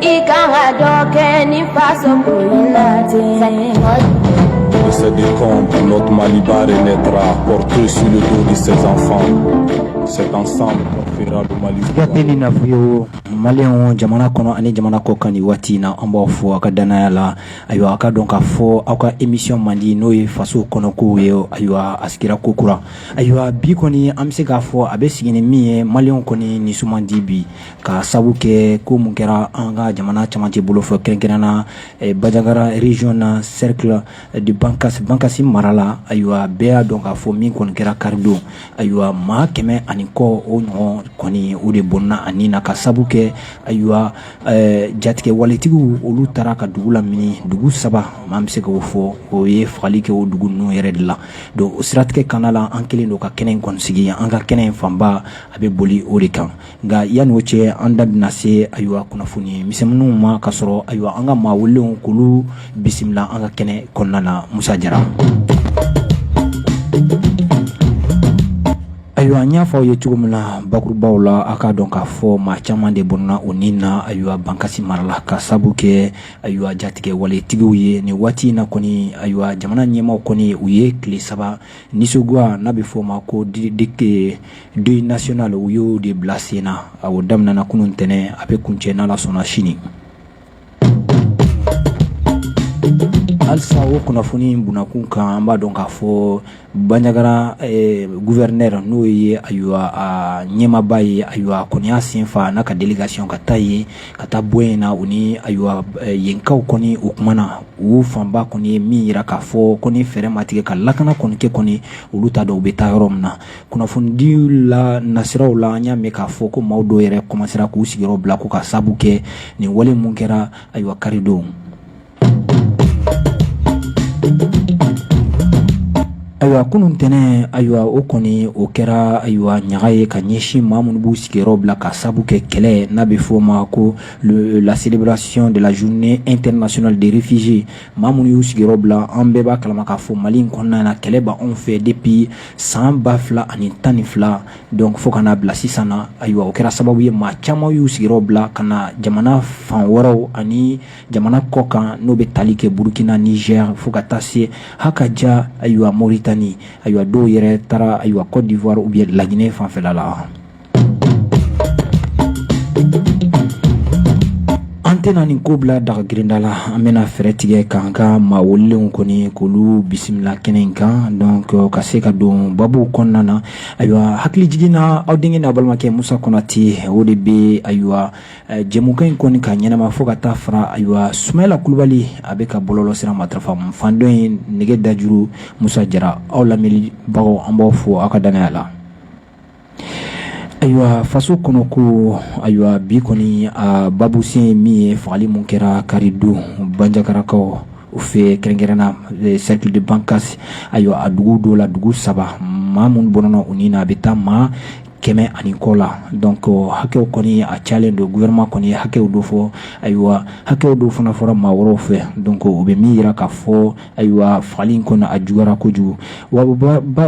i kan ka dɔ kɛ ni faso ko in na ten. se décompte, notre Maliba renaîtra, porté sur le dos de ses enfants. C'est ensemble qu'on fera le Mali. Gate ni nafuyo maliyɛnw jamana kɔnɔ ani jamana kɔ kan nin waati na an b'aw fo aw ka dannaya la ayiwa a k'a dɔn k'a fɔ aw ka émission mandi n'o ye faso kɔnɔkow ye ayiwa a sigira kokura ayiwa bi kɔni an bɛ se k'a fɔ a bɛ sigi ni min ye maliyɛnw kɔni nisɔn man di bi ka sabu kɛ ko mun kɛra an ka jamana camancɛ bolo fɛ kɛrɛnkɛrɛn na bajangara région na cercle de bankasi mara la ayiwa bɛɛ y'a dɔn k'a fɔ min kɔni kɛra karidon ayiwa maa kɛmɛ ani kɔ o ɲɔgɔn kɔni o de bɔnna u ni na ka sabu kɛ ayiwa jatigɛwaletigiw olu taara ka dugu lamini dugu saba maa bɛ se k'o fɔ u ye fagali kɛ o dugu ninnu yɛrɛ de la donc o siratigɛ kana la an kɛlen don ka kɛnɛ kɔni sigi an ka kɛnɛ in fanba a bɛ boli o de kan nka yann'o cɛ an da bɛna se ayiwa kunnafoni misɛnw ma ka sɔrɔ ayiwa an ka maa welelenw k'olu bisimila an ka kɛnɛ kɔnɔna na musa jara ayiwa an y'a fɔ aw ye cogo min na bakurubaw la a k'a dɔn k'a fɔ maa caman de bɔnna u ni na ayiwa bankasi mara la ka sabu kɛ ayiwa jatigɛwaletigiw ye nin waati in na kɔni ayiwa jamana ɲɛmaw kɔni u ye tile saba nisɔngoya n'a bɛ f'o ma ko didite Deuil national u y'o de bila sen na a daminɛna kunun ntɛnɛn a bɛ kuncɛ n'ala sɔnna sini halisa o kunnafoni in kun kan an b'a dɔn k'a fɔ bajangara gouverneur n'o ye ayiwa ɲɛmaba ye ayiwa k'o y'a sen fa n'a ka délégation ka taa yen ka taa bɔ in na u ni ayiwa yenkaw kɔni o tuma na u fanba kɔni ye min jira k'a fɔ ko fɛɛrɛ ma tigɛ ka lakana kɔni kɛ kɔni olu t'a dɔn u bɛ taa yɔrɔ min na kunnafonidilan siraw la an y'a mɛn k'a fɔ ko maaw dɔw yɛrɛ kɔmasera k'u sigiyɔrɔ bila ko ka sabu kɛ nin wale mun kɛra ayiwa karidon ayiwa kunun ntɛnɛn ayiwa o kɔni o kɛra ayiwa ɲaga ye ka ɲɛsin maa minnu b'u sigiyɔrɔ bila ka sabu kɛ kɛlɛ n'a bɛ f'o ma ko la célébration de la journée internationale des réfugiés maa minnu y'u sigiyɔrɔ bila an bɛɛ b'a kalama k'a fɔ mali in kɔnɔna na kɛlɛ b'anw fɛ depuis san ba fila ani tan ni fila donc fo ka na bila sisan na ayiwa o kɛra sababu ye maa caman y'u sigiyɔrɔ bila ka na jamana fan wɛrɛw ani jamana kɔ kan n'o bɛ tali kɛ burukina nizɛri fo ka taa se ha ka ja ayiwa moritani ayiwa dɔw yɛrɛ taara ayiwa kɔdiwari u bɛ laginɛ fanfɛla la An tɛna nin ko bila daga girinda la an bɛna fɛɛrɛ tigɛ k'an ka maa welelenw kɔni k'olu bisimila kɛnɛ in kan donc an ka se ka don babu kɔnɔna na ayiwa hakili jiginna aw denkɛ n'a balimakɛ musa konatɛ o de bɛ ayiwa jɛmukan in kɔni ka ɲɛnama fɔ ka taa fara ayiwa sula kulubali a bɛ ka bɔlɔlɔsira matarafa fan dɔ in nɛgɛ dajuru musa jara aw lamɛnnibagaw an b'aw fo aw ka danaya la Ayiwa faso kɔnɔ ko ayiwa bi kɔni babusen min ye fagali min kɛra karidon banjagarakaw u fɛ kɛrɛnkɛrɛnna cercle de Bankasi ayiwa a dugu dɔw la dugu saba maa minnu bɔnɛna u ni na a bɛ taa maa kɛmɛ ani kɔ la donc a hakɛ kɔni a calen don gouvernement kɔni hakɛ dɔ fɔ ayiwa hakɛ dɔ fana fɔra maa wɛrɛw fɛ donc o bɛ min jira ka fɔ ayiwa fagali in kɔni a juguyara kojugu wa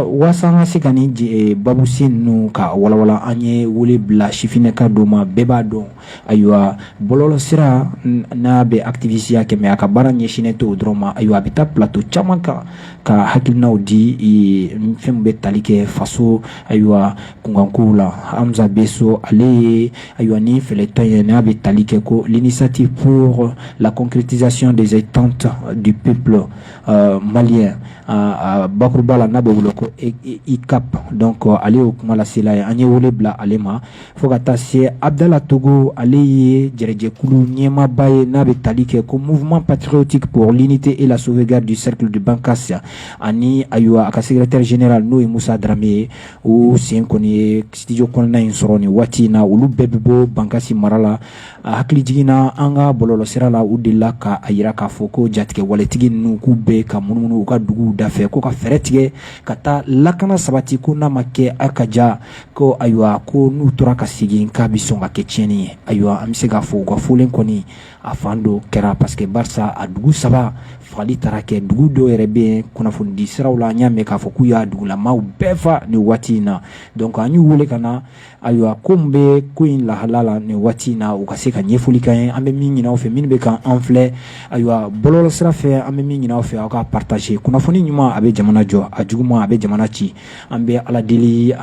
waasa an ka se ka nin eh, babusen ninnu ka walawala an ye wele bila sifinnaka dɔ ma bɛɛ b'a dɔn ayiwa bɔlɔlɔsira n'a bɛ activisiya kɛ mais a ka baara ɲɛsinnen t'o dɔrɔn ma ayiwa a bɛ taa plateau caman kan ka hakilinaw di eh, fɛn min bɛ tali kɛ faso ayiwa kunkanko la hamza beso ale ye ayiwa ni fɛlɛtɔn ye n'a bɛ tali kɛ ko l'initiative pour la concrétisation des attentes du peuple euh, malien a bakuruba la n'a bɛ wele ko e, e, ICAP donc euh, ale y'o kuma lasela ye an ye wele bila ale ma fo ka taa se Abdala Togo ale ye jɛrɛjɛkulu ɲɛmaaba ye n'a bɛ tali kɛ ko mouvement patriotique pour l'unité et la sauvegarde du cercle de Bankas ani ayiwa a ka secrétaire général n'o ye Musa Darame ye u sen kɔni ye studio kɔnɔna in sɔrɔ nin waati in na olu bɛɛ bɛ bɔ Bankasi mara la a hakili jiginna an ka bɔlɔlɔsira la u delila ka a jira k'a fɔ ko jatigɛwaletigi ninnu k'u bɛ ka munumunu u ka duguw dafɛ ko ka fɛɛrɛ tigɛ ka taa lakana sabati ko n'a ma kɛ a ka ja ko ayiwa ko n'u tora ka segin k'a bɛ sɔn ka kɛ tiɲɛni ye ayiwa an bɛ se k'a fɔ u ka fɔlen kɔni a fan dɔw kɛra parce que barisa a dugu saba fagali taara kɛ dugu dɔw yɛrɛ bɛ yen kunnafonidi siraw la an y'a mɛn k'a fɔ k'u y'a dugulamaw bɛɛ fa nin waati in na donc an y'u wele ka na ayiwa ko min bɛ ko in lahala la nin waati in na u ka se ka ɲɛfɔli k'an ye an bɛ min ɲini aw fɛ minnu bɛ k'an filɛ ayiwa bɔlɔlɔsira fɛ an bɛ min ɲini aw fɛ aw ka partager kunnafoni ɲuman a bɛ jamana jɔ a juguman a bɛ jamana ci an bɛ ala deli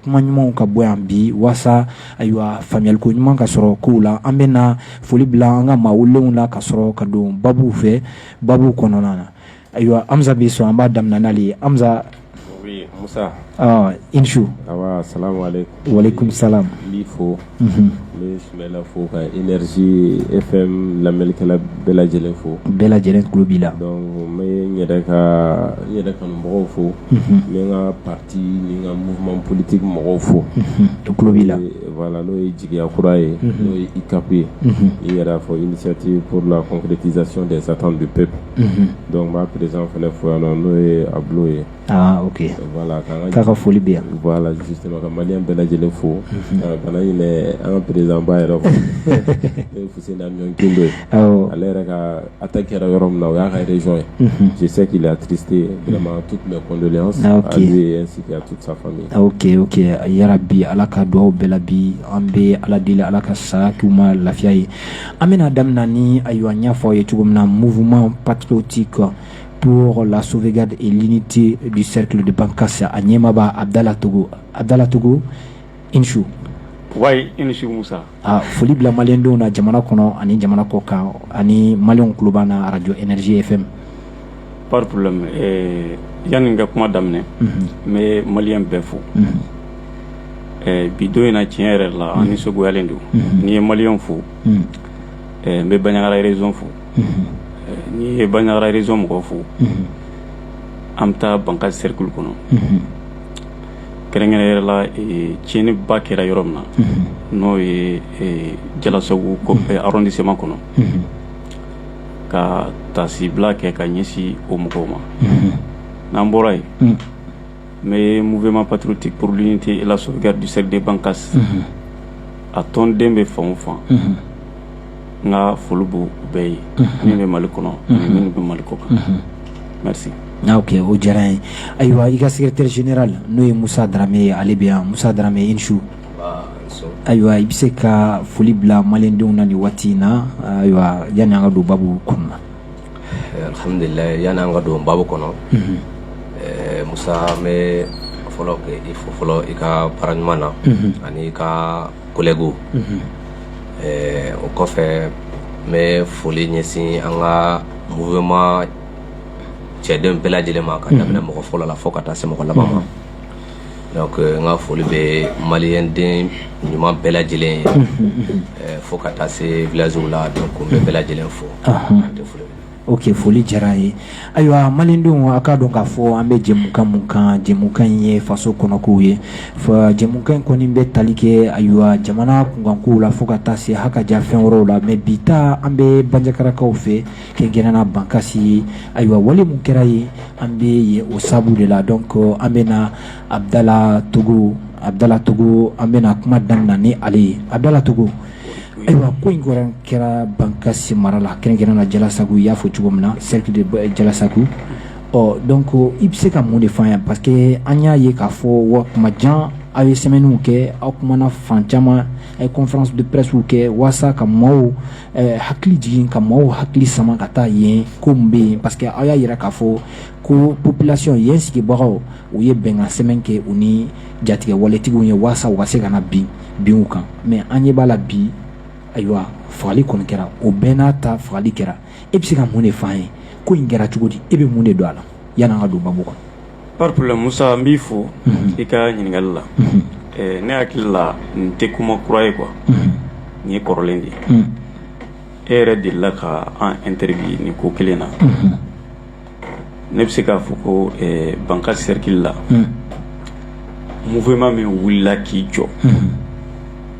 kuma ɲumanw ka bɔ yan bi walasasa ayiwa faamuyaliko ɲuman ka sɔrɔ kow la an bɛ na foli bila an ka maa welelenw la ka sɔrɔ ka don baabu fɛ baabu kɔnɔna na ayiwa hamza beso an b'a damina n'ale ye hamza i su wali sa fo ne sumayila fo ka Energie FM lamɛnlikɛla bɛɛ lajɛlen fo bɛɛ lajɛlen tulo b'i la bɛ yɛrɛ ka yɛrɛ kanu mɔgɔw fo n ka pati ni n ka mouvement politique mɔgɔw fo to tulo b'i la n'o ye jigiya kura ye n'o ye ICAP ye i yɛrɛ fɔ initiative pour la concrétisation des attentes du peuple donc b'a président fana fo yan n'o ye Ablo ye k'a ka foli bɛ yan ka mali bɛɛ lajɛlen fo ka na an président yɛrɛ ale yɛrɛ ka a ta kɛra yɔrɔ min na o y'a karez ye sise k'i la kite tu tun bɛdon sike a yɛrɛ bi ala ka dugawu bɛɛ la bi an bɛ ala deli ala ka sa ma lafiya ye an bɛna daminɛ ni a ɲɔgɔn ɲɛfɔ ye cogo min na mouvement patriotique pour la sauvegarde et l'unité du cercle de Bankass a ɲɛmaaba Abudala Togo Abudala Togo i ni su wai i ni su Musa aa foli bila maliyɛn denw na jamana kɔnɔ ani jamana kɔ kan ani maliyɛnw tulo b'an na radio Energie FM pas de problème ɛɛ yani n ka kuma daminɛ unhun n bɛ maliyɛn bɛɛ fo unhun ɛɛ bi don in na tiɲɛ yɛrɛ la an nisɔngoyalen don n'i ye maliyɛnw fo unhun ɛɛ n bɛ Bandiagara région fo n'i ye Bandiagara région mɔgɔw fo an bɛ taa Bankass cercle kɔnɔ kɛrɛnkɛrɛn yɛrɛ la tiɲɛniba kɛra yɔrɔ min na n'o ye Diallassagou arrondissement kɔnɔ ka taasibila kɛ ka ɲɛsin o mɔgɔw ma n'an bɔra yen N bɛ mouvement patriotique pour l'unité et la sauvegarde du cercle de Bankass unhun a tɔnden bɛ fan o fan unhun n ka foli b'u bɛɛ ye unhun minnu bɛ Mali kɔnɔ unhun ani minnu bɛ Mali kɔ kan unhun merci ah ok o diyara an ye ayiwa i ka secrétaire général n'o ye Musa Darame ye ale bɛ yan Musa Darame i ni su nbaa i ni su ayiwa i bɛ se ka foli bila maliyɛndenw na nin waati in na ayiwa yanni an ka don baabu kɔnɔ na Alhamdulilayi yanni an ka don baabu kɔnɔ musa n bɛ fɔlɔ k'i fo fɔlɔ i ka baara ɲuman na ani i ka collègues o kɔfɛ n bɛ foli ɲɛsin an ka mouvement cɛdenw bɛɛ lajɛlen ma k'a daminɛ mɔgɔ fɔlɔ la fo ka taa se mɔgɔ laban ma Donc n ka foli bɛ maliyɛnden ɲuman bɛɛ lajɛlen ye, ɛɛ fo ka taa se village la donc n bɛ bɛɛ lajɛlen fo, unhun, ka foli kɛ, ok foli diyara an ye, ayiwa maliyɛndenw a k'a dɔn k'a fɔ an bɛ jɛmukan min kan jɛmukan in ye faso kɔnɔkow ye, jɛmukan in kɔni bɛ tali kɛ ayiwa jamana kunkankow la fo ka taa se hakaja fɛn wɛrɛw la mais bi ta an bɛ Bandiagarakaw fɛ kɛrɛnkɛrɛnna Bankasi ye, ayiwa wale min kɛra yen, an bɛ yen o sababu de la donc an bɛ na Abudala Togo, Abudala Togo an bɛna kuma daminɛ ni ale ye, Abudala Togo, ayiwa ko in kɔni kɛra Bankasi mara la kɛrɛnkɛrɛnnenya la Jalasagu i y'a fɔ cogo min na cercle de Jalasagu, ɔ donc i bɛ se ka mun de fɔ an ɲɛna parce que an y'a ye k'a fɔ wa tuma jan aw ye sɛmɛniw kɛ, aw kumana fan caman a ye conférence de pressew kɛ walasa ka maaw eh, hakili jigin ka maaw hakili sama ka taa yen ko min bɛ yen parce que aw y'a yira k'a fɔ ko population yen sigibagaw u ye bɛnkan sɛmɛn kɛ u ni jatigɛ waletigiw ye walasa u ka se kana bin bin u kan mɛ an ɲɛ b'a la bi ayiwa fagali kɔni kɛra o bɛɛ n'a ta fagali kɛra e bɛ se ka mun de f'an ye ko in kɛra cogo di e bɛ mun de don a la yan'an ka don babu kɔnɔ Pas de problème Musa n b'i fo i ka ɲininkali la ne hakili la nin tɛ kuma kura ye quoi nin ye kɔrɔlen de ye e yɛrɛ delila ka an interview nin ko kelen na ne bɛ se k'a fɔ ko Bankasi sɛrikili la mouvement min wulila k'i jɔ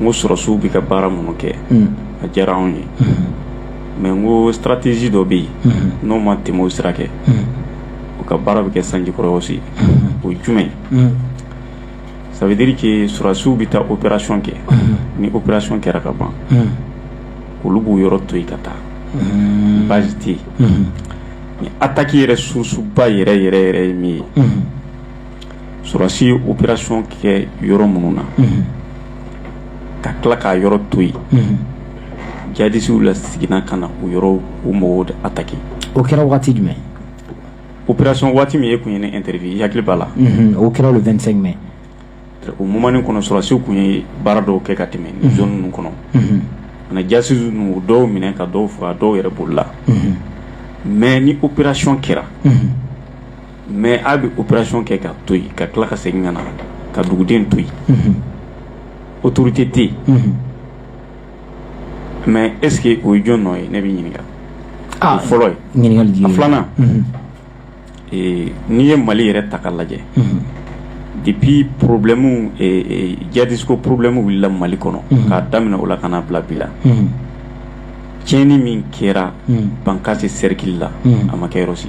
n ko sɔrɔdasiw bɛ ka baara minnu kɛ a diyara anw ye mɛ n ko stratégie dɔ bɛ yen n'u ma tɛmɛ o sira kan u ka baara bɛ kɛ sanjikɔrɔwɔsi o ye jumɛn ça veut dire que sɔrɔdasiw bɛ taa operasiyɔn kɛ ni operasiyɔn kɛra ka ban olu b'o yɔrɔ to yen ka taa baasi tɛ yen nin ataki yɛrɛ susuba yɛrɛ yɛrɛ yɛrɛ ye min ye sɔrɔdasiw operasiyɔn kɛ yɔrɔ minnu na ka tila k'a yɔrɔ to yen jadisiw laseginna ka na o yɔrɔ mɔgɔw ataki o kɛra waati jumɛn operasiyɔn waati min e tun ye n interview i hakili b'a la o kɛra vingt-cinq mai o moment kɔnɔ sɔrɔdasiw tun ye baara dɔw kɛ ka tɛmɛ nin zone ninnu kɔnɔ ka jadisi dɔw minɛ ka dɔw faga dɔw yɛrɛ bolila mɛ ni operasiyɔn kɛra mɛ u bɛ operasiyɔn kɛ ka to yen ka tila ka segin ka na ka duguden to yen autorité tɛ yen mɛ est-ce que o ye jɔn nɔ ye ne bɛ ɲininkali fɔlɔ ye filanan n'i ye Mali yɛrɛ ta ka lajɛ depuis problème jadisiko problème wulila Mali kɔnɔ k'a daminɛ o la ka na bila bi la tiɲɛni min kɛra Bankasi sɛrikili la a ma kɛ yɔrɔ si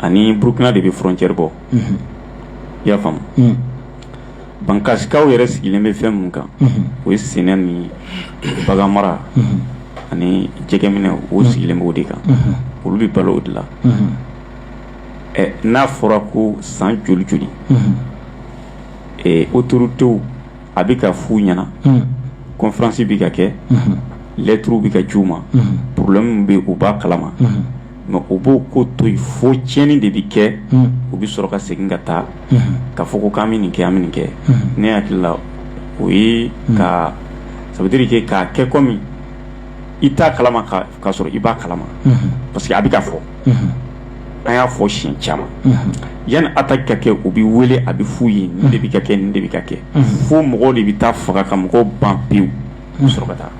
ani burukina de bɛ frontière bɔ i y'a faamu bankasikaw yɛrɛ sigilen bɛ fɛn min kan o ye sɛnɛ ni baganmara ani jɛgɛminɛ u sigilen b'o de kan olu bɛ balo o de la ɛ n'a fɔra ko san joli joli autorités a bɛ ka f'u ɲɛna conférence bɛ ka kɛ lɛtiriw bɛ ka ci u ma problème min bɛ u b'a kalama mɛ u b'o ko to fo tiɲɛni de bɛ kɛ u bɛ sɔrɔ ka segin ka taa ka fɔ ko k'an bɛ nin kɛ an bɛ nin kɛ ne hakili la o ye ka ça veut dire que k'a kɛ komi i t'a kalama ka sɔrɔ i b'a kalama parce que a bɛ ka fɔ an y'a fɔ siɲɛ caman yanni attaque ka kɛ u bɛ wele a bɛ f'u ye nin de bɛ ka kɛ nin de bɛ ka kɛ fo mɔgɔw de bɛ taa faga ka mɔgɔw ban pewu taa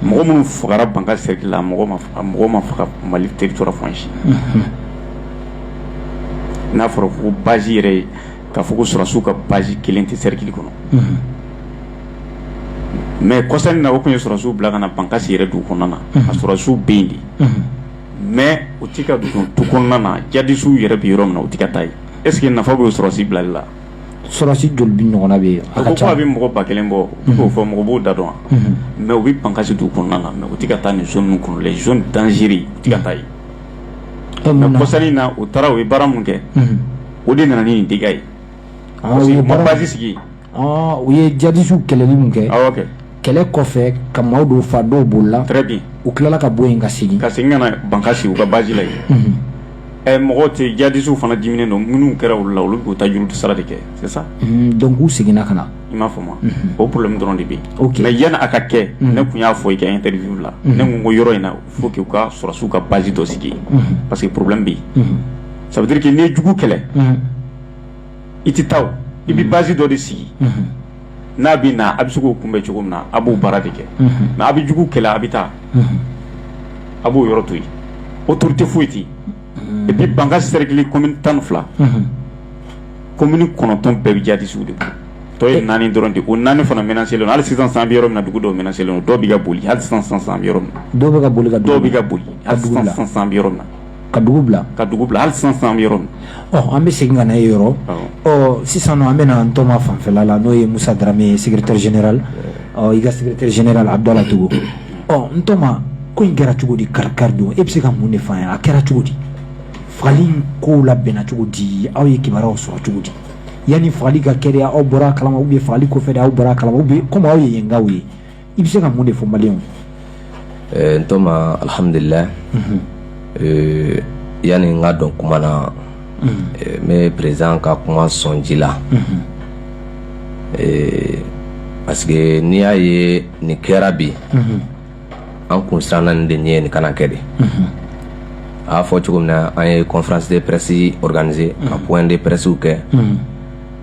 mɔgɔ minnu fagara bankasi serikili la mɔgɔ ma mali teri fsi n'a fɔra ko basi yɛrɛ ye ka fɔ sɔrɔsiw ka basi kelen tɛ serikili kɔnɔ mɛ kɔsa in na o tun ye sɔrɔsiw bila ka na bankasi yɛrɛ du kɔnɔna na a sɔrɔsiw bɛ yen de mɛ u tɛ ka du tu kɔnɔna na jadisiw yɛrɛ bɛ yɔrɔ min na u tɛ ka taa yen eseke nafa bɛ sɔrɔsi bilali la sɔrɔsi joli bɛ ɲɔgɔnna bɛ yen a ka ca a bɛ mɔgɔ ba kelen bɔ k'o fɔ mɔgɔ b'o da dɔn mɛ u bɛ bankasi du kɔnɔna na mɛ u tɛ ka taa nin zone kɔnɔ zone dangereuse u tɛ ka taa yen mɛ kɔsa in na u taara u ye baara min kɛ o de nana ni nin dégât ye u ye baarasi sigi u ye jadisiw kɛlɛli min kɛ kɛ kɛlɛ kɔfɛ ka maa dɔw fa dɔw bolila très bien u tilala ka bɔ yen ka segin ka segin ka na bankasi sigi u ka base la yen mhm. ɛ mɔgɔ tɛ jadisiw fana diminnen don minnu kɛra olu la olu b'u ta juru sara de kɛ c'est ça mhm, donc u seginna ka na i m'a faamu mhm. o problème dɔrɔn de bɛ yen mais yanni a ka kɛ ne tun y'a fɔ i ka interview la ne ko n ko yɔrɔ in na faut que u ka sɔrɔsiw ka base dɔ sigi parce que problème bɛ yen ça veut dire que n'i ye jugu kɛlɛ i tɛ taa i bɛ basi dɔ de sigi n'a bɛ na a bɛ se k'o kunbɛn cogo min na a b'o baara de kɛ mɛ a bɛ jugu kɛlɛ a bɛ taa a b'o yɔrɔ to yen autorité foyi tɛ yen et puis bankasi serikili commune tan ni fila commune kɔnɔntɔn bɛɛ bɛ jadisiw de tɔ ye naani dɔrɔn de ko naani fana menacélen hali sisan an bɛ yɔrɔ min na dugu dɔw menacélen dɔw bɛ ka boli hali sisan sisan an bɛ yɔrɔ min dɔw bɛ ka boli dɔw bɛ ka boli sisan an bɛ yɔrɔ min na ka dugu bila ka dugu bila hali sisan sisan an bɛ yɔrɔ min ɔ an bɛ segin ka na e yɔrɔ ɔ sisan an bɛna n tɔma fanfɛla la n'o ye Musa Darame ye secrétaire général ɔ i ka secrétaire général Abdala Togo ɔ n tɔma ko in kɛra cogo di kari kari don e bɛ se ka mun de fɔ an ye a kɛra cogo di fagali in kow labɛnna cogo di aw ye kibaruyaw sɔrɔ cogo di yanni fagali ka kɛ de aw bɔra a kalama ou bien fagali kɔfɛ de aw bɔra a kalama ou bien komi aw ye yenkaw ye i bɛ se ka mun de fɔ maliyɛnw ye. ɛɛ eh, n tɔma alihamudulila. Mhm. Eh, yanni n ka don kuma na. Mhm. Eh, n bɛ président ka kuma sɔn ji la. Mhm. parce que n'i y'a ye nin kɛra bi. an kun siranna nin de ɲɛ nin kana kɛ dɛ. a y'a fɔ cogo min na an ye conférence de presse organiser ka point de presse kɛ.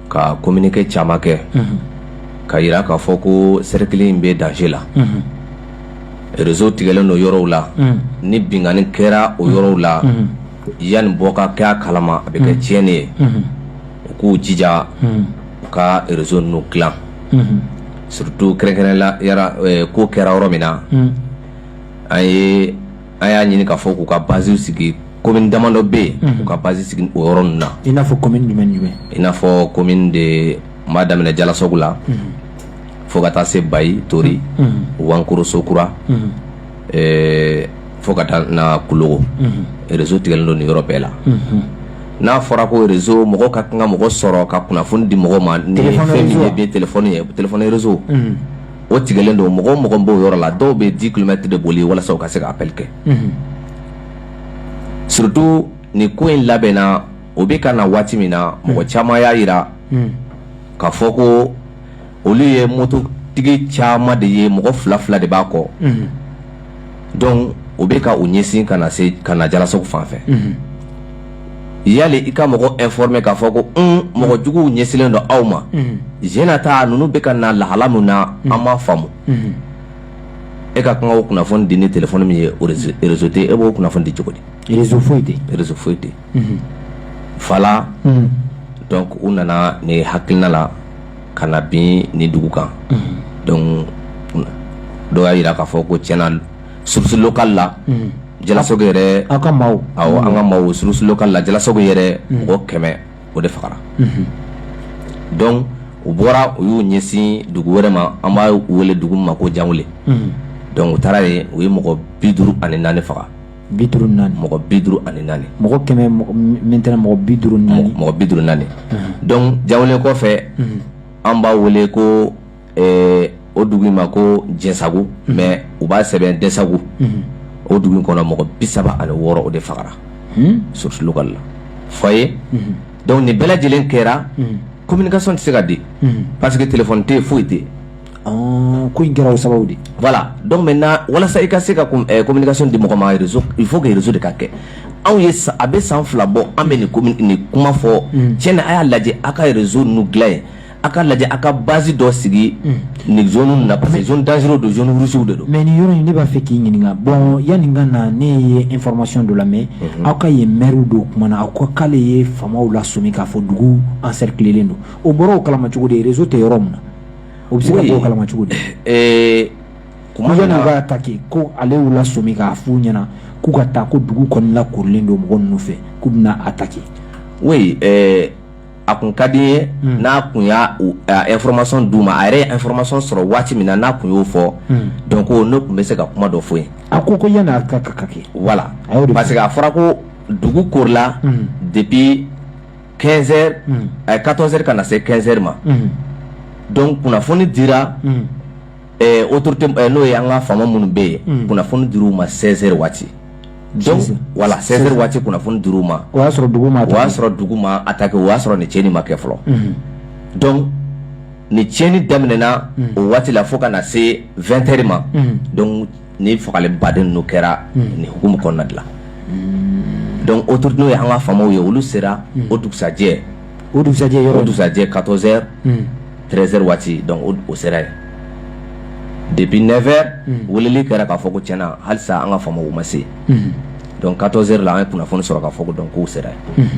ka kominike caman kɛ k'a jira k'a fɔ ko sɛrikili in bɛ danger la rezo tigɛlen don yɔrɔw la ni binkanni kɛra o yɔrɔw la yanni bɔ ka kɛ a kalama a bɛ kɛ tiɲɛni ye u k'u jija u ka rezo ninnu dilan surutu kɛrɛnkɛrɛnnenya la ko kɛra yɔrɔ min na an ye an y'a ɲini k'a fɔ k'u ka basiw sigi komin damadɔ bɛ yen mhm. u ka basi sigi o yɔrɔ ninnu na i n'a fɔ komin jumɛn jumɛn i n'a fɔ komin de n b'a daminɛ jalasogu la mhm. fo ka taa se bayi tori mhm. wankoro sokura eh, fo ka taa na kulogo rezo tigɛlen don nin yɔrɔ bɛɛ la n'a fɔra ko rezo mɔgɔ ka kan ka mɔgɔ sɔrɔ ka kunnafoni di mɔgɔ ma ni fɛn min ye bi telefɔni ye telefɔni rezo o tigɛlen don mɔgɔ o mɔgɔ b'o yɔrɔ la dɔw bɛ dix kilomɛtiri de boli walasa u ka se ka apɛli kɛ surutu nin ko in labɛnna u bɛ ka na waati min na mɔgɔ caman y'a jira k'a fɔ ko olu ye mototigi caman de ye mɔgɔ fila fila de b'a kɔ dɔnku u bɛ ka u ɲɛsin ka na se ka na jalasogu fan fɛ yanni i ka mɔgɔ informer k'a fɔ ko mɔgɔ juguw ɲɛsinnen don aw ma z ta ninnu bɛ ka na lahala min na an ma faamu e ka kan ka o kunnafoni di ni telefɔni min ye o rezo tɛ e b'o kunnafoni di cogo di rezo foyi tɛ rezo foyi tɛ wala dɔnku u nana ne hakilina la ka na bin nin dugu kan dɔnku dɔw y'a jira k'a fɔ ko tiɲɛna source locale la jalasogu yɛrɛ aw ka maaw an ka maaw source locale la jalasogu yɛrɛ mɔgɔ kɛmɛ o de fagara dɔnku u bɔra u y'u ɲɛsin dugu wɛrɛ ma an b'a wele dugu ma ko janweli dɔnku u taara yen u ye mɔgɔ bi duuru ani naani faga bi duuru naani mɔgɔ bi duuru ani naani mɔgɔ kɛmɛ maintenant mɔgɔ bi duuru naani mɔgɔ bi duuru naani dɔnku janweli kɔfɛ an b'a wele ko o dugu ma ko jɛsagu mais u b'a sɛbɛn desagu o dugu kɔnɔ mɔgɔ bi saba ani wɔɔrɔ o de fagara source locale la fɔ ye dɔnku nin bɛɛ lajɛlen kɛra communication tɛ se ka di parce que telefɔni tɛ foyi tɛ ko in kɛra o sababu de wala dɔnku maintenant walasa i ka se ka communication di mɔgɔ ma il faut que rezo de ka kɛ anw ye a bɛ san fila bɔ an bɛ nin kuma fɔ tiɲɛna a y'a lajɛ aw ka rezo nin dilan an ye a k'a lajɛ a ka base dɔ sigi nin zone na parce que zone dangereux don zone rouge de don mais nin yɔrɔ in ne b'a fɛ k'i ɲininka bon yanni n ka na ne ye information dɔ lamɛn aw ka yen maire dɔ kumana a ko k'ale ye faamaw lasɔmi k'a fɔ dugu encerclelen don o bɔra o kalama cogo di réseau tɛ yɔrɔ min na o bɛ se ka bɔ o kalama cogo di eh, kuma yanni u ka na attaquer ko ale y'u lasɔmi k'a f'u ɲɛna k'u ka taa ko dugu kɔni lakorilen don mɔgɔ ninnu fɛ k'u bɛna attaquer oui eh, a kun ka di ye hmm. n'a kun y'a information d'u ma a yɛrɛ ye information sɔrɔ waati min na n'a kun y'o fɔ hmm. donc ne kun bɛ se ka kuma dɔ fɔ yen a ko ko yanni a ka ka kɛ voilà parce que a fɔra ko dugu korila hmm. depuis 15 heures a ye 14 heures ka na se 15 heures ma donc kunnafoni dira autorité n'o ye an ka faama minnu bɛ yen kunnafoni dir'u ma 16 heures waati voilà 16 heures waati kunnafoni dir'u ma o y'a sɔrɔ dugu ma o y'a sɔrɔ dugu ma attaquer o y'a sɔrɔ ni cɛnni ma kɛ fɔlɔ donc ni cɛnni daminɛna o waati la fo ka na se 20 heures ma ni fagali baden n'o kɛra nin hukumu kɔnɔna de la donc autorité n'o ye an ka faamaw ye olu sera o dugusajɛ o dugusajɛ yɔrɔ o dugusajɛ 14 heures 13 heures waati donc o sera yen depuis 9 heures weleli kɛra k'a fɔ ko tiɲɛ na halisa an ka faamaw ma se donc 14 heures la an ye kunnafoni sɔrɔ k'a fɔ ko donc k'u sera yen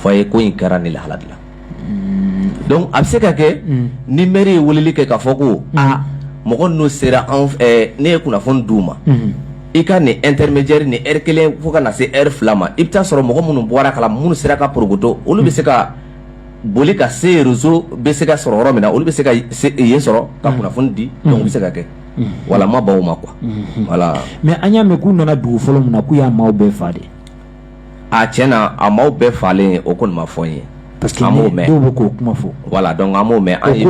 fɔ a ye ko in kɛra nin lahala de la donc a bɛ se ka kɛ ni maire ye weleli kɛ k'a fɔ ko aa mɔgɔ ninnu sera an ne ye kunnafoni d'u ma i ka nin intermédiaire ni heure kelen fo ka na se heure fila ma i bɛ taa sɔrɔ mɔgɔ minnu bɔr'a kala minnu sera ka pɔrɔkɔtɔ olu bɛ se ka boli ka se réseau bɛ se ka sɔrɔ yɔrɔ min na olu bɛ se ka yen sɔrɔ ka mm. kunnafoni di mm. donc o bɛ se ka kɛ mm. voilà n ma ban o ma quoi mm-hmm. voilà mais an y'a mɛn k'u nana dugu fɔlɔ min na k'u y'a maaw bɛɛ faga dɛ aa cɛn na a maaw bɛɛ fagalen o kɔni ma fɔ n ye parce que b'o mɛn bɛ k'o kuma fɔ voilà donc an b'o mɛn an ye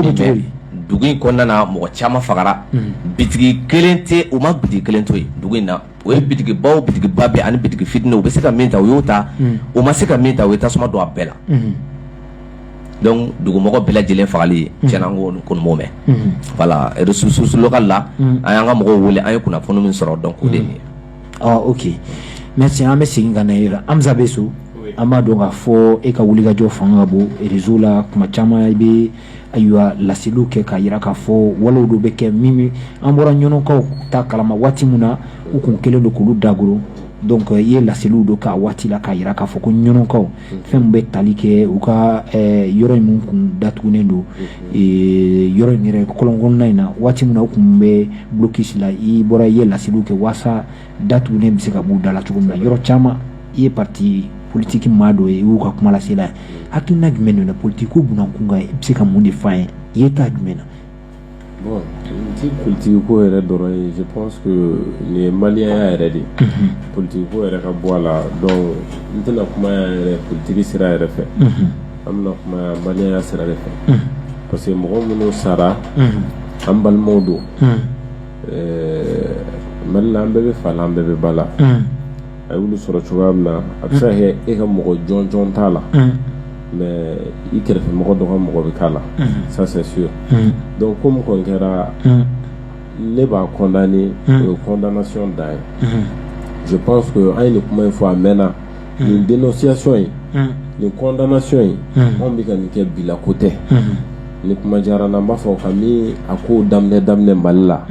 dugu in kɔnɔna mɔgɔ caman fagara bitigi kelen tɛ u ma bitigi kelen to yen dugu in na o ye bitigibaw bitigiba bɛɛ ani bitigi fitinin u bɛ se ka min ta u y'o ta u ma se ka min ta u ye tasuma don a bɛɛ la dugumɔgɔ bɛɛ lajɛlen fagali cɛn ko mɛn voilà jusque là an y'an ka mɔgɔw wele an ye kunnafoni min sɔrɔ donc o de ye oke merci an bɛ segin ka na e yɔrɔ hamza b sow an b'a dɔn k'a fɔ e ka wulikajɔ fana ka bon réseau la tuma caman i bɛ ayiwa laseliw kɛ k'a jira k'a fɔ walew dɔ bɛ kɛ min an bɔra ɲɔnɔkaw ta kalama waati min na u tun kɛlen don k'olu dakoron donc i ye laseliw dɔ k'a waati la k'a jira k'a fɔ ko ɲɔnɔkaw fɛn min bɛ tali kɛ u ka yɔrɔ in kun datugunen don yɔrɔ in yɛrɛ kɔlɔnna in na waati min u tun bɛ du kisi la i bɔra i ye lasiriw kɛ walasa datugu bɛ se ka bɔ u da la cogo min na yɔrɔ caman i ye pati politigi maa dɔ ye y'u ka kumalasela hakilina jumɛn politigi kun kan i bɛ se ka mun de fɔ ye i ye ta jumɛn na Bon nin tɛ politique ko yɛrɛ dɔrɔn ye je pense que nin ye malienya yɛrɛ de ye, unhun, politique ko yɛrɛ ka bɔ a la donc n tɛna kuma yan yɛrɛ politique sira yɛrɛ fɛ, unhun, an bɛna kuma yan malienya sira de fɛ, unhun, parce que mɔgɔ minnu sara, unhun, an balimaw don, unhun, ɛɛ Mali la an bɛɛ bɛ fa la an bɛɛ bɛ ba la, unhun a y'olu sɔrɔ cogoya min na a bɛ se ka kɛ e ka mɔgɔ jɔnjɔn t'a la mais i kɛrɛfɛ mɔgɔ dɔ ka mɔgɔ bɛ k'a la ça c'est sûr donc ko min kɔni kɛra ne b'a condamner o ye condamnation dan ye je pense que an ye nin kuma in fɔ a mɛnna nin dénonciation in nin condamnation in anw bɛ ka nin kɛ bi la ko tɛ ni kuma diyara n na n b'a fɔ kamini a ko daminɛ daminɛ Mali la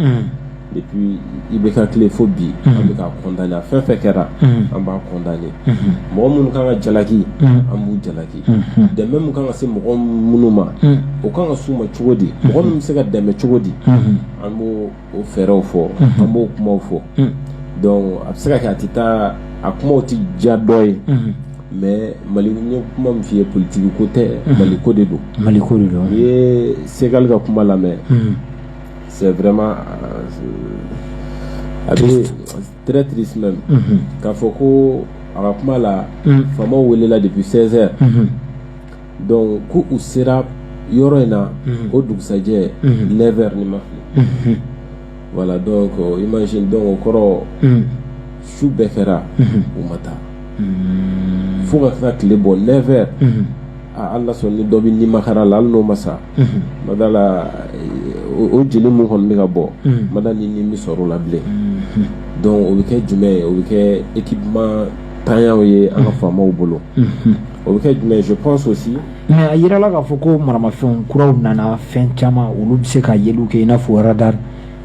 depuis IBK tile fo bi an bɛ k'a condamner a fɛn fɛn kɛra an b'a condamner mɔgɔ minnu kan ka jalaki an b'u jalaki dɛmɛ min kan ka se mɔgɔ minnu ma o kan ka s'u ma cogo di mɔgɔ min bɛ se ka dɛmɛ cogo di an b'o o fɛɛrɛw fɔ an b'o kumaw fɔ donc a bɛ se ka kɛ a tɛ taa a kumaw tɛ diya dɔ ye mais mali n ye kuma min f'i ye politiki ko tɛ mali ko de don mali ko de don n'i ye segali ka kuma lamɛn C'est vraiment euh, a bɛ très triste même mhm. k'a fɔ ko a ka kuma la mhm. faamaw welela depuis 16 heures mhm. donc ko u sera yɔrɔ in na o dugusajɛ 9 heures ni n ma fili voilà donc euh, imagine donc o kɔrɔ su bɛɛ kɛra u ma taa fo ka taa tile bɔ 9 heures Ala sɔnna dɔ bɛ nimakaran la n'o ma sa n ma da a la o jeli min kɔni bɛ ka bɔ n ma da ni ni bɛ sɔrɔ a la bilen donc o bɛ kɛ jumɛn ye o bɛ kɛ équipement ntanya ye an ka faamaw bolo o bɛ kɛ jumɛn ye je pense aussi a jirala k'a fɔ ko maramafɛn kuraw nana fɛn caman olu bɛ se ka yeliw kɛ i n'a fɔ radar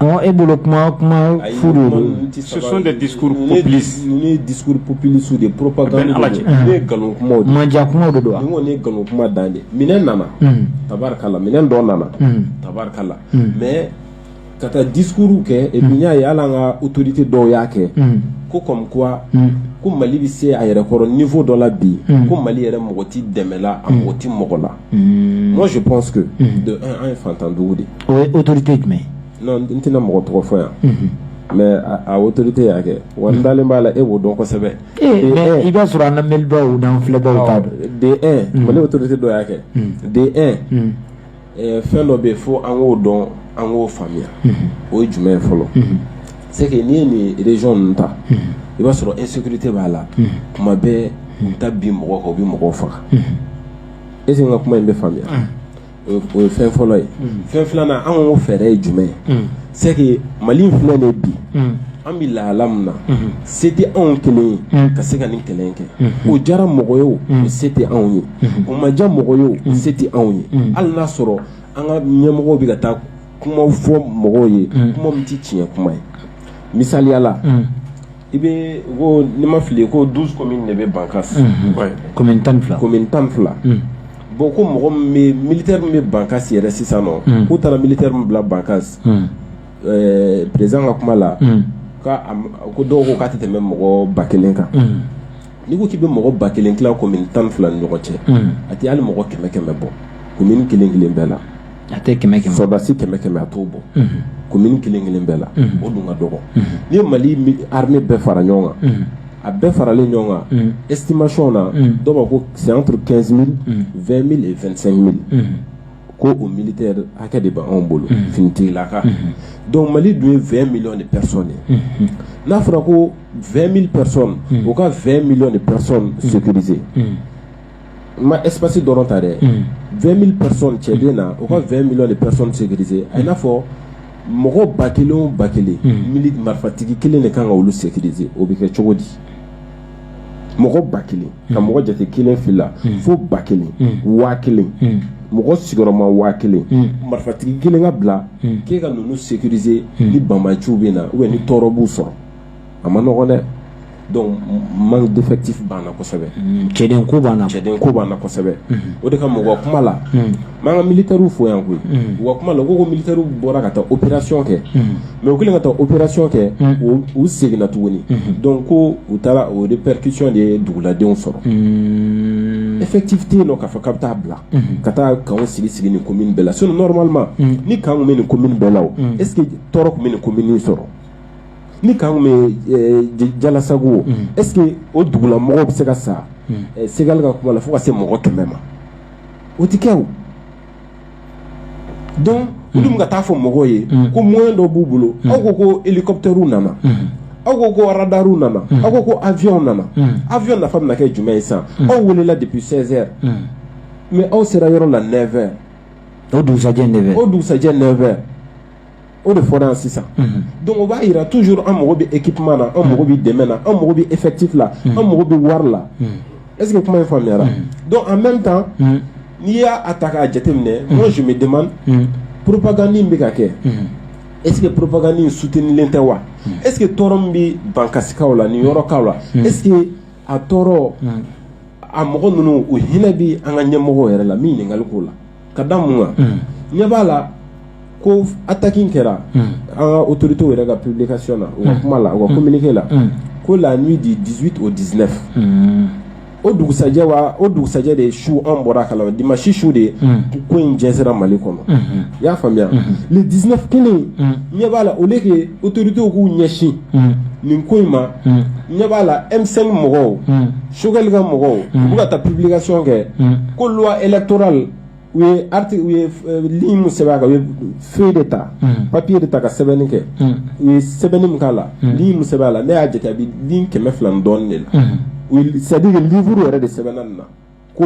Ɔ e bolo kuma kuma furu sososɔ de di dusupurp pplisiw de ppp nkalon kuma mandiya kuma don nkalon kuma dan de minɛn nana tarikala minɛn dɔ nana tarikala mɛ ka taa discours kɛ y'a ye a la an ka autorité dɔw y'a kɛ ko kɔmi ko mali bɛ se a yɛrɛ kɔrɔ niveau dɔ la bi ko mali yɛrɛ mago tɛ dɛmɛ la a mago tɛ mɔgɔ la Hmm. Moi, je pense que, hmm. de un, an ye fantandugu de ye. O ye autorité jumɛn ye? Non, n tɛna mɔgɔ tɔgɔ fɔ yan. Hmm. mais a autorité y'a kɛ wa n dalen b'a la e b'o dɔn kosɛbɛ. mais i b'a sɔrɔ an lamɛnibaaw n'an filɛbaaw t'a dɔn. de un mali autorité dɔ y'a kɛ. de un eh, fɛn dɔ bɛ yen fo an k'o dɔn an k'o faamuya. o ye jumɛn ye fɔlɔ. c'est que n'i ye nin région ninnu ta. i b'a sɔrɔ insécurité b'a la. kuma bɛɛ u bɛ taa bin mɔgɔ kan u bɛ mɔgɔw faga. est-ce que kuma in bɛ faamuya o ye fɛn fɔlɔ ye fɛn filanan an ko fɛɛrɛ ye jumɛn ye c'est que mali in fila de bi an bɛ lahala min na se tɛ anw kelen ye ka se ka nin kɛlɛ kɛ o diyara mɔgɔ ye se tɛ anw ye o ma diya mɔgɔ ye se tɛ anw ye hali y'a sɔrɔ an ka ɲɛmɔgɔ bɛ ka taa kuma fɔ mɔgɔw ye kuma tɛ tiɲɛ kuma ye misaliya la i bɛ ko ne ma fili ko du min de bɛ ban tan tan fila bon ko mɔgɔ mi bɛ ban yɛrɛ sisan k'u taara mili min bila ban perez ka kuma la ko dɔw ko k'a tɛ tɛmɛ bɛ mɔgɔ ba kelen kan n'i ko k'i bɛ mɔgɔ ba kelen tila commune tan ni fila ni ɲɔgɔn cɛ a tɛ hali mɔgɔ kɛmɛ kɛmɛ bɔ commune kelen kelen bɛɛ la a tɛ kɛmɛ sɔrɔdasi kɛmɛ kɛmɛ a t'o bɔ commune kelen kelen bɛɛ la o dun ka dɔgɔ ni mali armée bɛɛ fara ɲɔgɔn kan a bɛɛ faralen ɲɔgɔn kan estimation na dɔw ko c'est entre quinze mille vingt mille et vingt-cinq mille ko o mili hakɛ de b' anw bolo ftila don mali dun ye v mi de psɔn de n'a fɔra ko v mi psɔn u ka v mi de psɔn sose n ma espsi dɔrɔn ta dɛ v mi psɔn cɛ bɛ na u ka v mi de psɔn sese a n'a fɔ mɔgɔ ba kelen ba kelen marifatigi kelen de kan ka olu sɛse o bɛ kɛ cogo di mɔgɔ ba kelen ka mɔgɔ jate kelen fila fo ba kelen waa kelen mɔgɔ sigiyɔrɔma waa kelen marifatigi kelen ka bila k'e ka ninnu sécuriser ni banbaganciw bɛ na u ni tɔɔrɔ b'u sɔrɔ a ma nɔgɔ dɛ donc manque d'effectif b'an na kosɛbɛ cɛden ko b'an na cɛden ko b'an na kosɛbɛ o de ka mɔgɔ kuma la N b'an ka militaires fo yan koyi, unhun, u ka kuma la u ko ko militaires bɔra ka taa opération kɛ, unhun, mais u kɛlen ka taa opération kɛ, unhun, u seginna tuguni, unhun, donc ko u taara o répercussion de ye duguladenw sɔrɔ, unn, effectif tɛ yen nɔ k'a fɔ k'a bɛ taa bila, unhun, ka taa camps sigi sigi nin commune bɛɛ la sinon normalement unhun, ni camps tun bɛ nin commune bɛɛ la o, unhun, est ce que tɔɔrɔ tun bɛ nin commune in sɔrɔ? ni camps tun bɛ ɛɛ Jalasago o, unhun, est ce que o dugulamɔgɔw bɛ se ka sa, unhun, Segali ka kuma la fo ka se mɔgɔ 100 ma. o tɛ kɛ o donc hmm. olu bɛ ka taa fɔ mɔgɔw ye hmm. ko moyen dɔ b'u bolo hmm. aw ko ko hélicoptères nana aw ko ko radariw nana aw ko ko avions nana avion nafa bɛna kɛ jumɛn ye sisan aw welela depuis 16 heures mais aw sera yɔrɔ la 9 heures o dugusajɛ 9 heures o dugusajɛ 9 heures o de fɔra yan sisan donc o b'a yira toujours an mago bɛ équipement na an mago bɛ dɛmɛ na an mago bɛ effectif la an mago bɛ wari la est ce que kuma in faamuyara donc en même temps n'i y'a ta k'a jateminɛ moi je me demande propagande in bɛ ka kɛ est ce que propagande in soutenilen tɛ wa est ce que tɔɔrɔ min bɛ bankasikaw la nin yɔrɔkaw la est ce que a tɔɔrɔ a mɔgɔ ninnu u hinɛ bɛ an ka ɲɛmɔgɔw yɛrɛ la min ɲininkali k'o la ka da mun kan unhun ɲɛ b'a la ko attaque in kɛra unhun an ka autorité yɛrɛ ka publication na u ka kuma la u ka communiqué la unhun ko la nuit du 18 au 19 unhun o dugusajɛ wa o dugusajɛ de su an bɔra a kalama dimanche su de unhun ko in jɛnsɛra mali kɔnɔ unhun i y'a faamuya le 19 kelen unhun ɲɛ b'a la au lieu que autorités k'u ɲɛsin unhun nin ko in ma unhun ɲɛ b'a la M5 mɔgɔw unhun sokɛkali ka mɔgɔw u ka taa pebili ka sɔn kɛ ko e tora u ye sɛbɛn kan u ye fi de ta papiye de ta ka sɛbɛnni kɛ u ye sɛbɛnni min k'a la sɛbɛn a la ne y'a jate a bɛ kɛmɛ fila dɔɔnin de la u sadi uru yɛrɛ de sɛbɛn nin na ko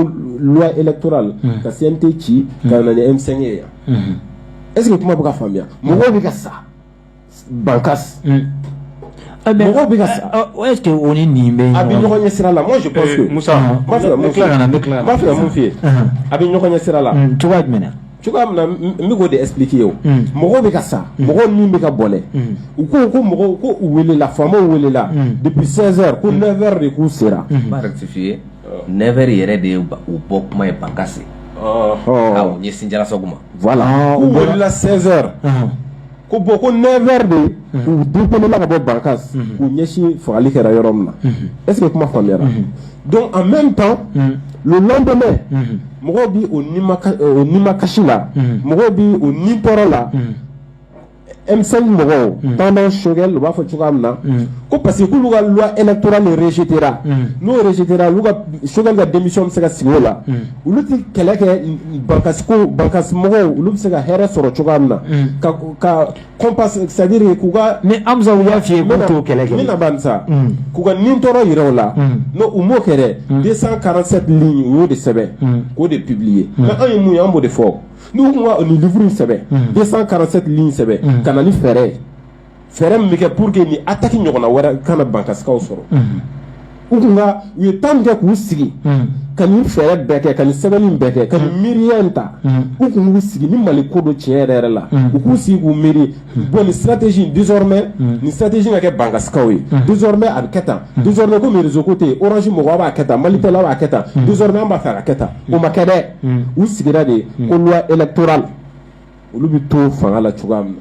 e tora ka sen tɛ ci ka na emisɛn ye yan e kuma bɛ ka faamuya mɔgɔw bɛ ka sa ban mɔgɔ bɛ ese o ni nin bɛ a bɛ ɲɔgɔn ɲɛ sira la mu fɛ a bɛ ɲɔgɔn ɲɛ sira la cogoya jumɛn cogoya min bɛ'o de pki ye mɔgɔ bɛ ka sa mɔgɔ min bɛ ka bɔɛ u ko ko mɔgɔw ko u weelela faama welela de bɛ sensɛn ko ne wɛrɛ de k'u sera fi ye ne wɛrɛ yɛrɛ de ye u bɔ kuma ye ba ɲɛ sinjala sago ma u bɔla sensɛn ko bɔn ko nɛ wɛrɛ de u du kɔnɔ ka bɔ barika u ɲɛsin fagali kɛra yɔrɔ min na ese ye kuma faamuya don an bɛ pan latɔmɛ mɔgɔw bɛ ni ma kasi la mɔgɔw bɛ u ni tɔɔrɔ la emisɛn mɔgɔw banna sokɛ u b'a fɔ cogoya min na ko parce que k'olu ka la e tora ni site n'u site sokɛ ka denmisɛn bɛ se ka sigi la olu tɛ kɛlɛ kɛ bankasi mɔgɔw olu bɛ se ka hɛrɛ sɔrɔ cogoya min na c'est à dire k'u ka ni anmuso y'a feuille kelen kɛ k'u ka nitɔɔrɔ jira u la non u m'o kɛ 247 lignes u y'o de sɛbɛn k'o de publier i y'a mɛn anw ye mun ye an b'o de fɔ n'u tun na nin livre sɛbɛn 247 lignes sɛbɛn ka na ni fɛɛrɛ ye fɛɛrɛ min bɛ kɛ pour que nin attaque ɲɔgɔnna wɛrɛ kana bankasikaw sɔrɔ u tun ka u ye tan kɛ k'u sigi ka nin fɛɛrɛ bɛɛ kɛ ka nin sɛbɛnni in bɛɛ kɛ ka nin miiriya in ta u tun k'u sigi ni mali ko don tiɲɛ yɛrɛ yɛrɛ la u k'u sigi k'u miiri bon nin stratégie in désormais nin stratégie ka kɛ bankasikaw ye désormais a bɛ kɛ tan désormais komi réseau ko tɛ yen orange mɔgɔw b'a kɛ tan malitel b'a kɛ tan désormais an b'a fɛ a ka kɛ tan o ma kɛ dɛ u sigira de ko loi électorale olu bɛ to fanga la cogoya min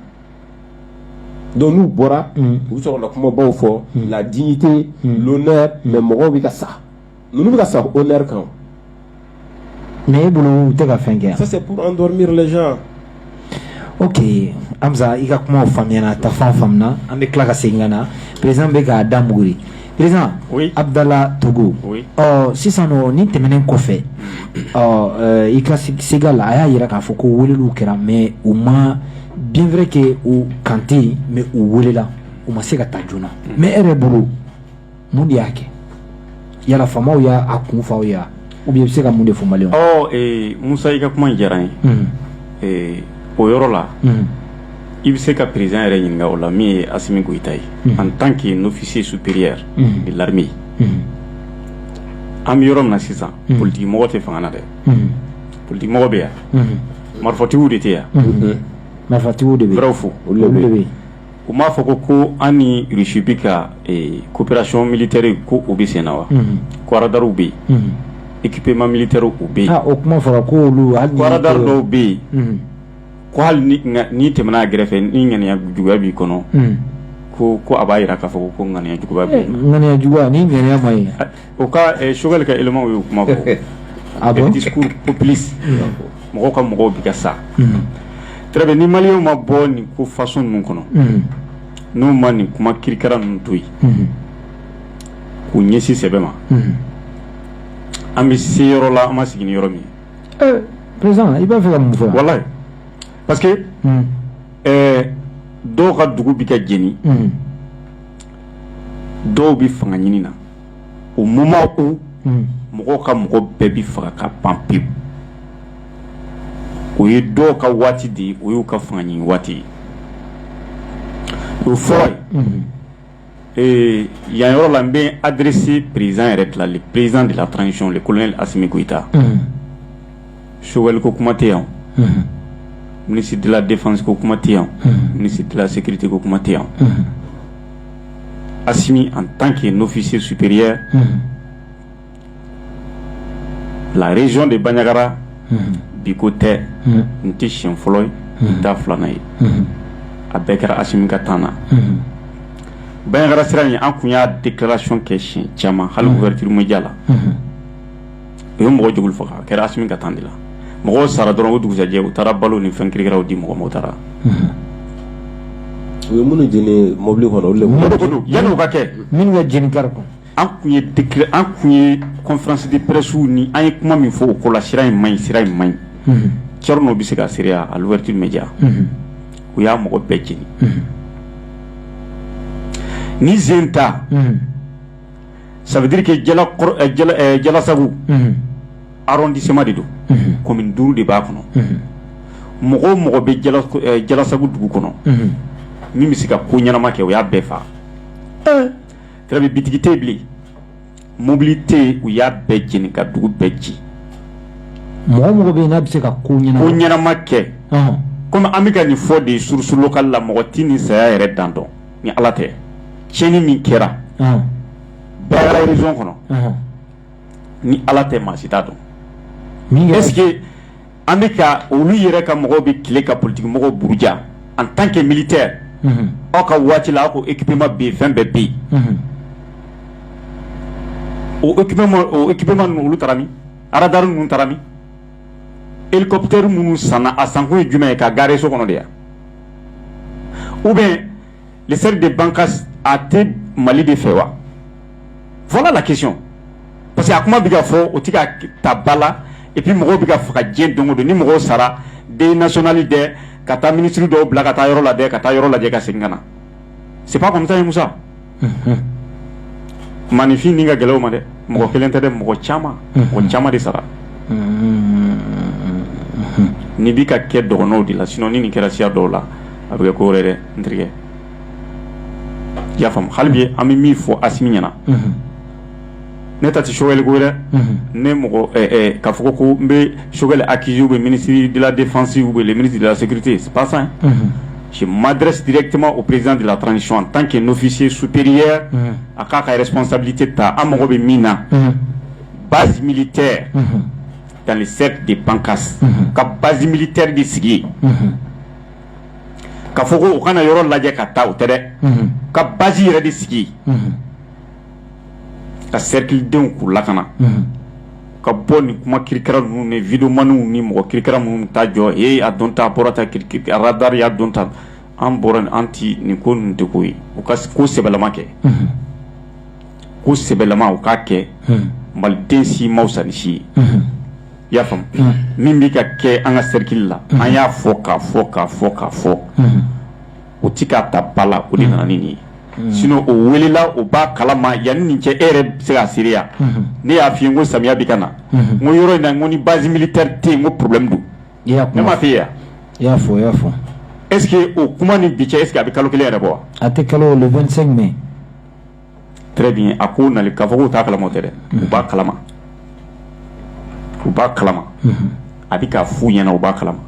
donc n'u bɔra mm. u bɛ sɔrɔ ka kumabaw fɔ mm. la dignité mm. l'honneur mais mɔgɔw bɛ ka sa ninnu bɛ ka sa honneur kan mais e bolo u tɛ ka fɛn kɛ ça c'est pour endormir les gens ok hamza i ka kuma faamuyana taafan faamuna an bɛ tila ka segin ka na président bɛ k'a da muguri Président abudala togo ɔ sisan nin tɛmɛnen kɔfɛ ɔ i ka se la a y'a jira k'a fɔ ko wele kɛra mais u ma bien vrai que u quand même u welela u ma se ka taa joona mais e yɛrɛ bolo mun de y'a kɛ yala faamaw y'a kun fɔ aw ye wa u bɛ se ka mun de fɔ mali musa i ka kuma diyara n ye o yɔrɔ la i bɛ se ka président yɛrɛ ɲininka o la min ye asimi goyita ye en tant qu'un officier supérieur de l'armée an bɛ yɔrɔ min sisan politigimɔgɔ tɛ fanga na dɛ politigimɔgɔ bɛ yan marifatigiw de tɛ yan marifatigiw de bɛ fo u m'a fɔ ko ko an ni rusi bɛ ka coopération militaire ko u bɛ senna wa ko radarw bɛ yen équipement militaire u bɛ yen o kuma fɔra ko radar dɔw bɛ yen ko hali n'i tɛmɛna a gɛrɛfɛ ni ŋaniya juguya b'i kɔnɔ ko ko a b'a jira k'a fɔ ko ŋaniya jugu ŋaniya jugu ni ŋaniya ɲuman ye O ka choguel ka élémentw ye o kuma fɔ a bɛ discours populiste mɔgɔ ka mɔgɔw bɛ ka sa tarawele ni malienw ma bɔ nin ko façon ninnu kɔnɔ n'u ma nin kuma kirikara ninnu to yen k'u ɲɛsin sɛbɛ ma an bɛ se yɔrɔ la an ma sigi ni yɔrɔ min ye président i b'a fɛ ka mun fɔ walayi parce que dɔw ka dugu bɛ ka jeni dɔw bɛ fanga ɲini na au moment où mɔgɔw ka mɔgɔ bɛɛ bɛ faga ka ban pewu o ye dɔw ka waati de ye o y'u ka fanga ɲini waati ye o fɔlɔ yan yɔrɔ la n bɛ adresser président yɛrɛ de la le président de la transition le colonel asimi goyita soliko kuma tɛ yan minisi dilan defaseko kuma tɛ yan minisi dilan seginnaigiriteko kuma tɛ yan a simi an tan kɛ n'fisi supre larezy de banyagara biko tɛ n tɛ si fɔlɔ ye n da filanan ye a bɛɛ kɛra asimi ka tan na banyara sira in an tun y'a de kɛracon kɛ siyɛn caman hali wɛrɛtirimɛja la u ye mɔgɔ joli faga a kɛra a ka temps de la mɔgɔ sara dɔrɔn o dugujɛ u taara balo ni fɛn kikaw di mɔgɔ taara u ye minnu jeni mɔbili kɔnɔ yanni ka kɛ minnu jeni kari an tun ye an tun ye conférence de presse wele an ye kuma min fɔ o ko la sira in ma ɲi sira in ma ɲi c n'o bɛ se ka sɔrɔ à l'Ouverture Média u y'a mɔgɔ bɛɛ jeni ni zen ta ça veut dire que Diallassagou arrondissement de don commune duuru de b'a kɔnɔ mɔgɔ o mɔgɔ bɛ Diallassagou dugu kɔnɔ min bɛ se ka ko ɲɛnama kɛ u y'a bɛɛ faa tile bɛ bitigi tɛ bilen mobili tɛ u y'a bɛɛ jeni ka dugu bɛɛ ci mɔgɔ o mɔgɔ bɛ n'a bɛ se ka ko ɲɛnama kɛ kɔmi an bɛ ka nin fɔ de source locale la mɔgɔ tɛ nin saya yɛrɛ dan dɔn ni ala tɛ tiɲɛni min kɛra Bandiagara région kɔnɔ ni ala tɛ maa si t'a dɔn est-ce que an bɛ ka olu yɛrɛ ka mɔgɔw bɛ tile ka politikimɔgɔw buruja en tant que militaire aw ka waati la aw ko équipement bɛ yen fɛn bɛɛ bɛ yen o équipement ninnu olu taara min radar ninnu taara min helicoptère minnu sanna a sankun ye jumɛn ye ka garer so kɔnɔ de ya ou bien le cercle de Bankass a tɛ Mali de fɛ wa voilà la question parce que a kuma bɛ ka fɔ o tɛ ka ta ba la et puis mɔgɔw bɛ ka faga diɲɛ don o don ni mɔgɔw sara deuil national dɛ ka taa ministre dɔw bila ka taa yɔrɔ la dɛ ka taa yɔrɔ lajɛ ka segin ka na c'est pas comme i t'a ye musa ma nin fɛn nin ka gɛlɛn an ma dɛ mɔgɔ kelen tɛ dɛ mɔgɔ caman mɔgɔ caman de sara nin bɛ ka kɛ dɔgɔnɔw de la sinon ni nin kɛra siya dɔw la a bɛ kɛ ko wɛrɛ dɛ n terikɛ i y'a faamu hali bi an bɛ min fɔ Assimi ɲɛna ne ta tɛ soli ko dɛ ne mɔgɔ ka fɔ ko n bɛ sokɛkɛ a kkiy bɛ minisiri dilan defasiw wele mini dela sete pasa si madrɛsitema o perez dela tan sɔn tan kɛ n'fisi supiriya a k'a ka yɛrɛsonsabili tɛ taa an mago bɛ min na basi mili tɛ tan ni se de panka ka basi mili teri de sigi ka fɔ u kana yɔrɔ lajɛ ka taa u tɛ dɛ ka basi yɛrɛ de sigi ka sɛrikilidenw k'u lakana u ka bɔ nin kuma kirikara ninnu ni vidéomaninw ni mɔgɔ kirikara minnu ta jɔ e a dɔn ta bɔra ta kidaruyaya dɔn ta an bɔra an tɛ nin ko de ko ye u ka ko sɛbɛlama kɛ ko sɛbɛlama u k'a kɛ maliden si man fisa ni si ye i y'a faamu min bɛ ka kɛ an ka sɛrikili la an y'a fɔ k ka fɔ k ka fɔ k ka fɔ o tɛ k'a ta ba la o de nana ni nin ye sinon o welela o b'a kalama yanni nin cɛ e yɛrɛ bɛ se k'a seereya ne y'a f'i ye n ko samiya bɛ ka na n ko yɔrɔ in na n ko ni base militaire tɛ yen ko problème don ne m'a f'i ye wa, i y'a fɔ i y'a fɔ est ce que o kuma ni bi cɛ est ce que a bɛ kalo kelen yɛrɛ bɔ wa, a tɛ kalo le 25 mai Bien a ko na k'a fɔ k'u t'a kalama tɛ dɛ u b'a kalama u b'a kalama a bɛ ka f'u ɲɛna u b'a kalama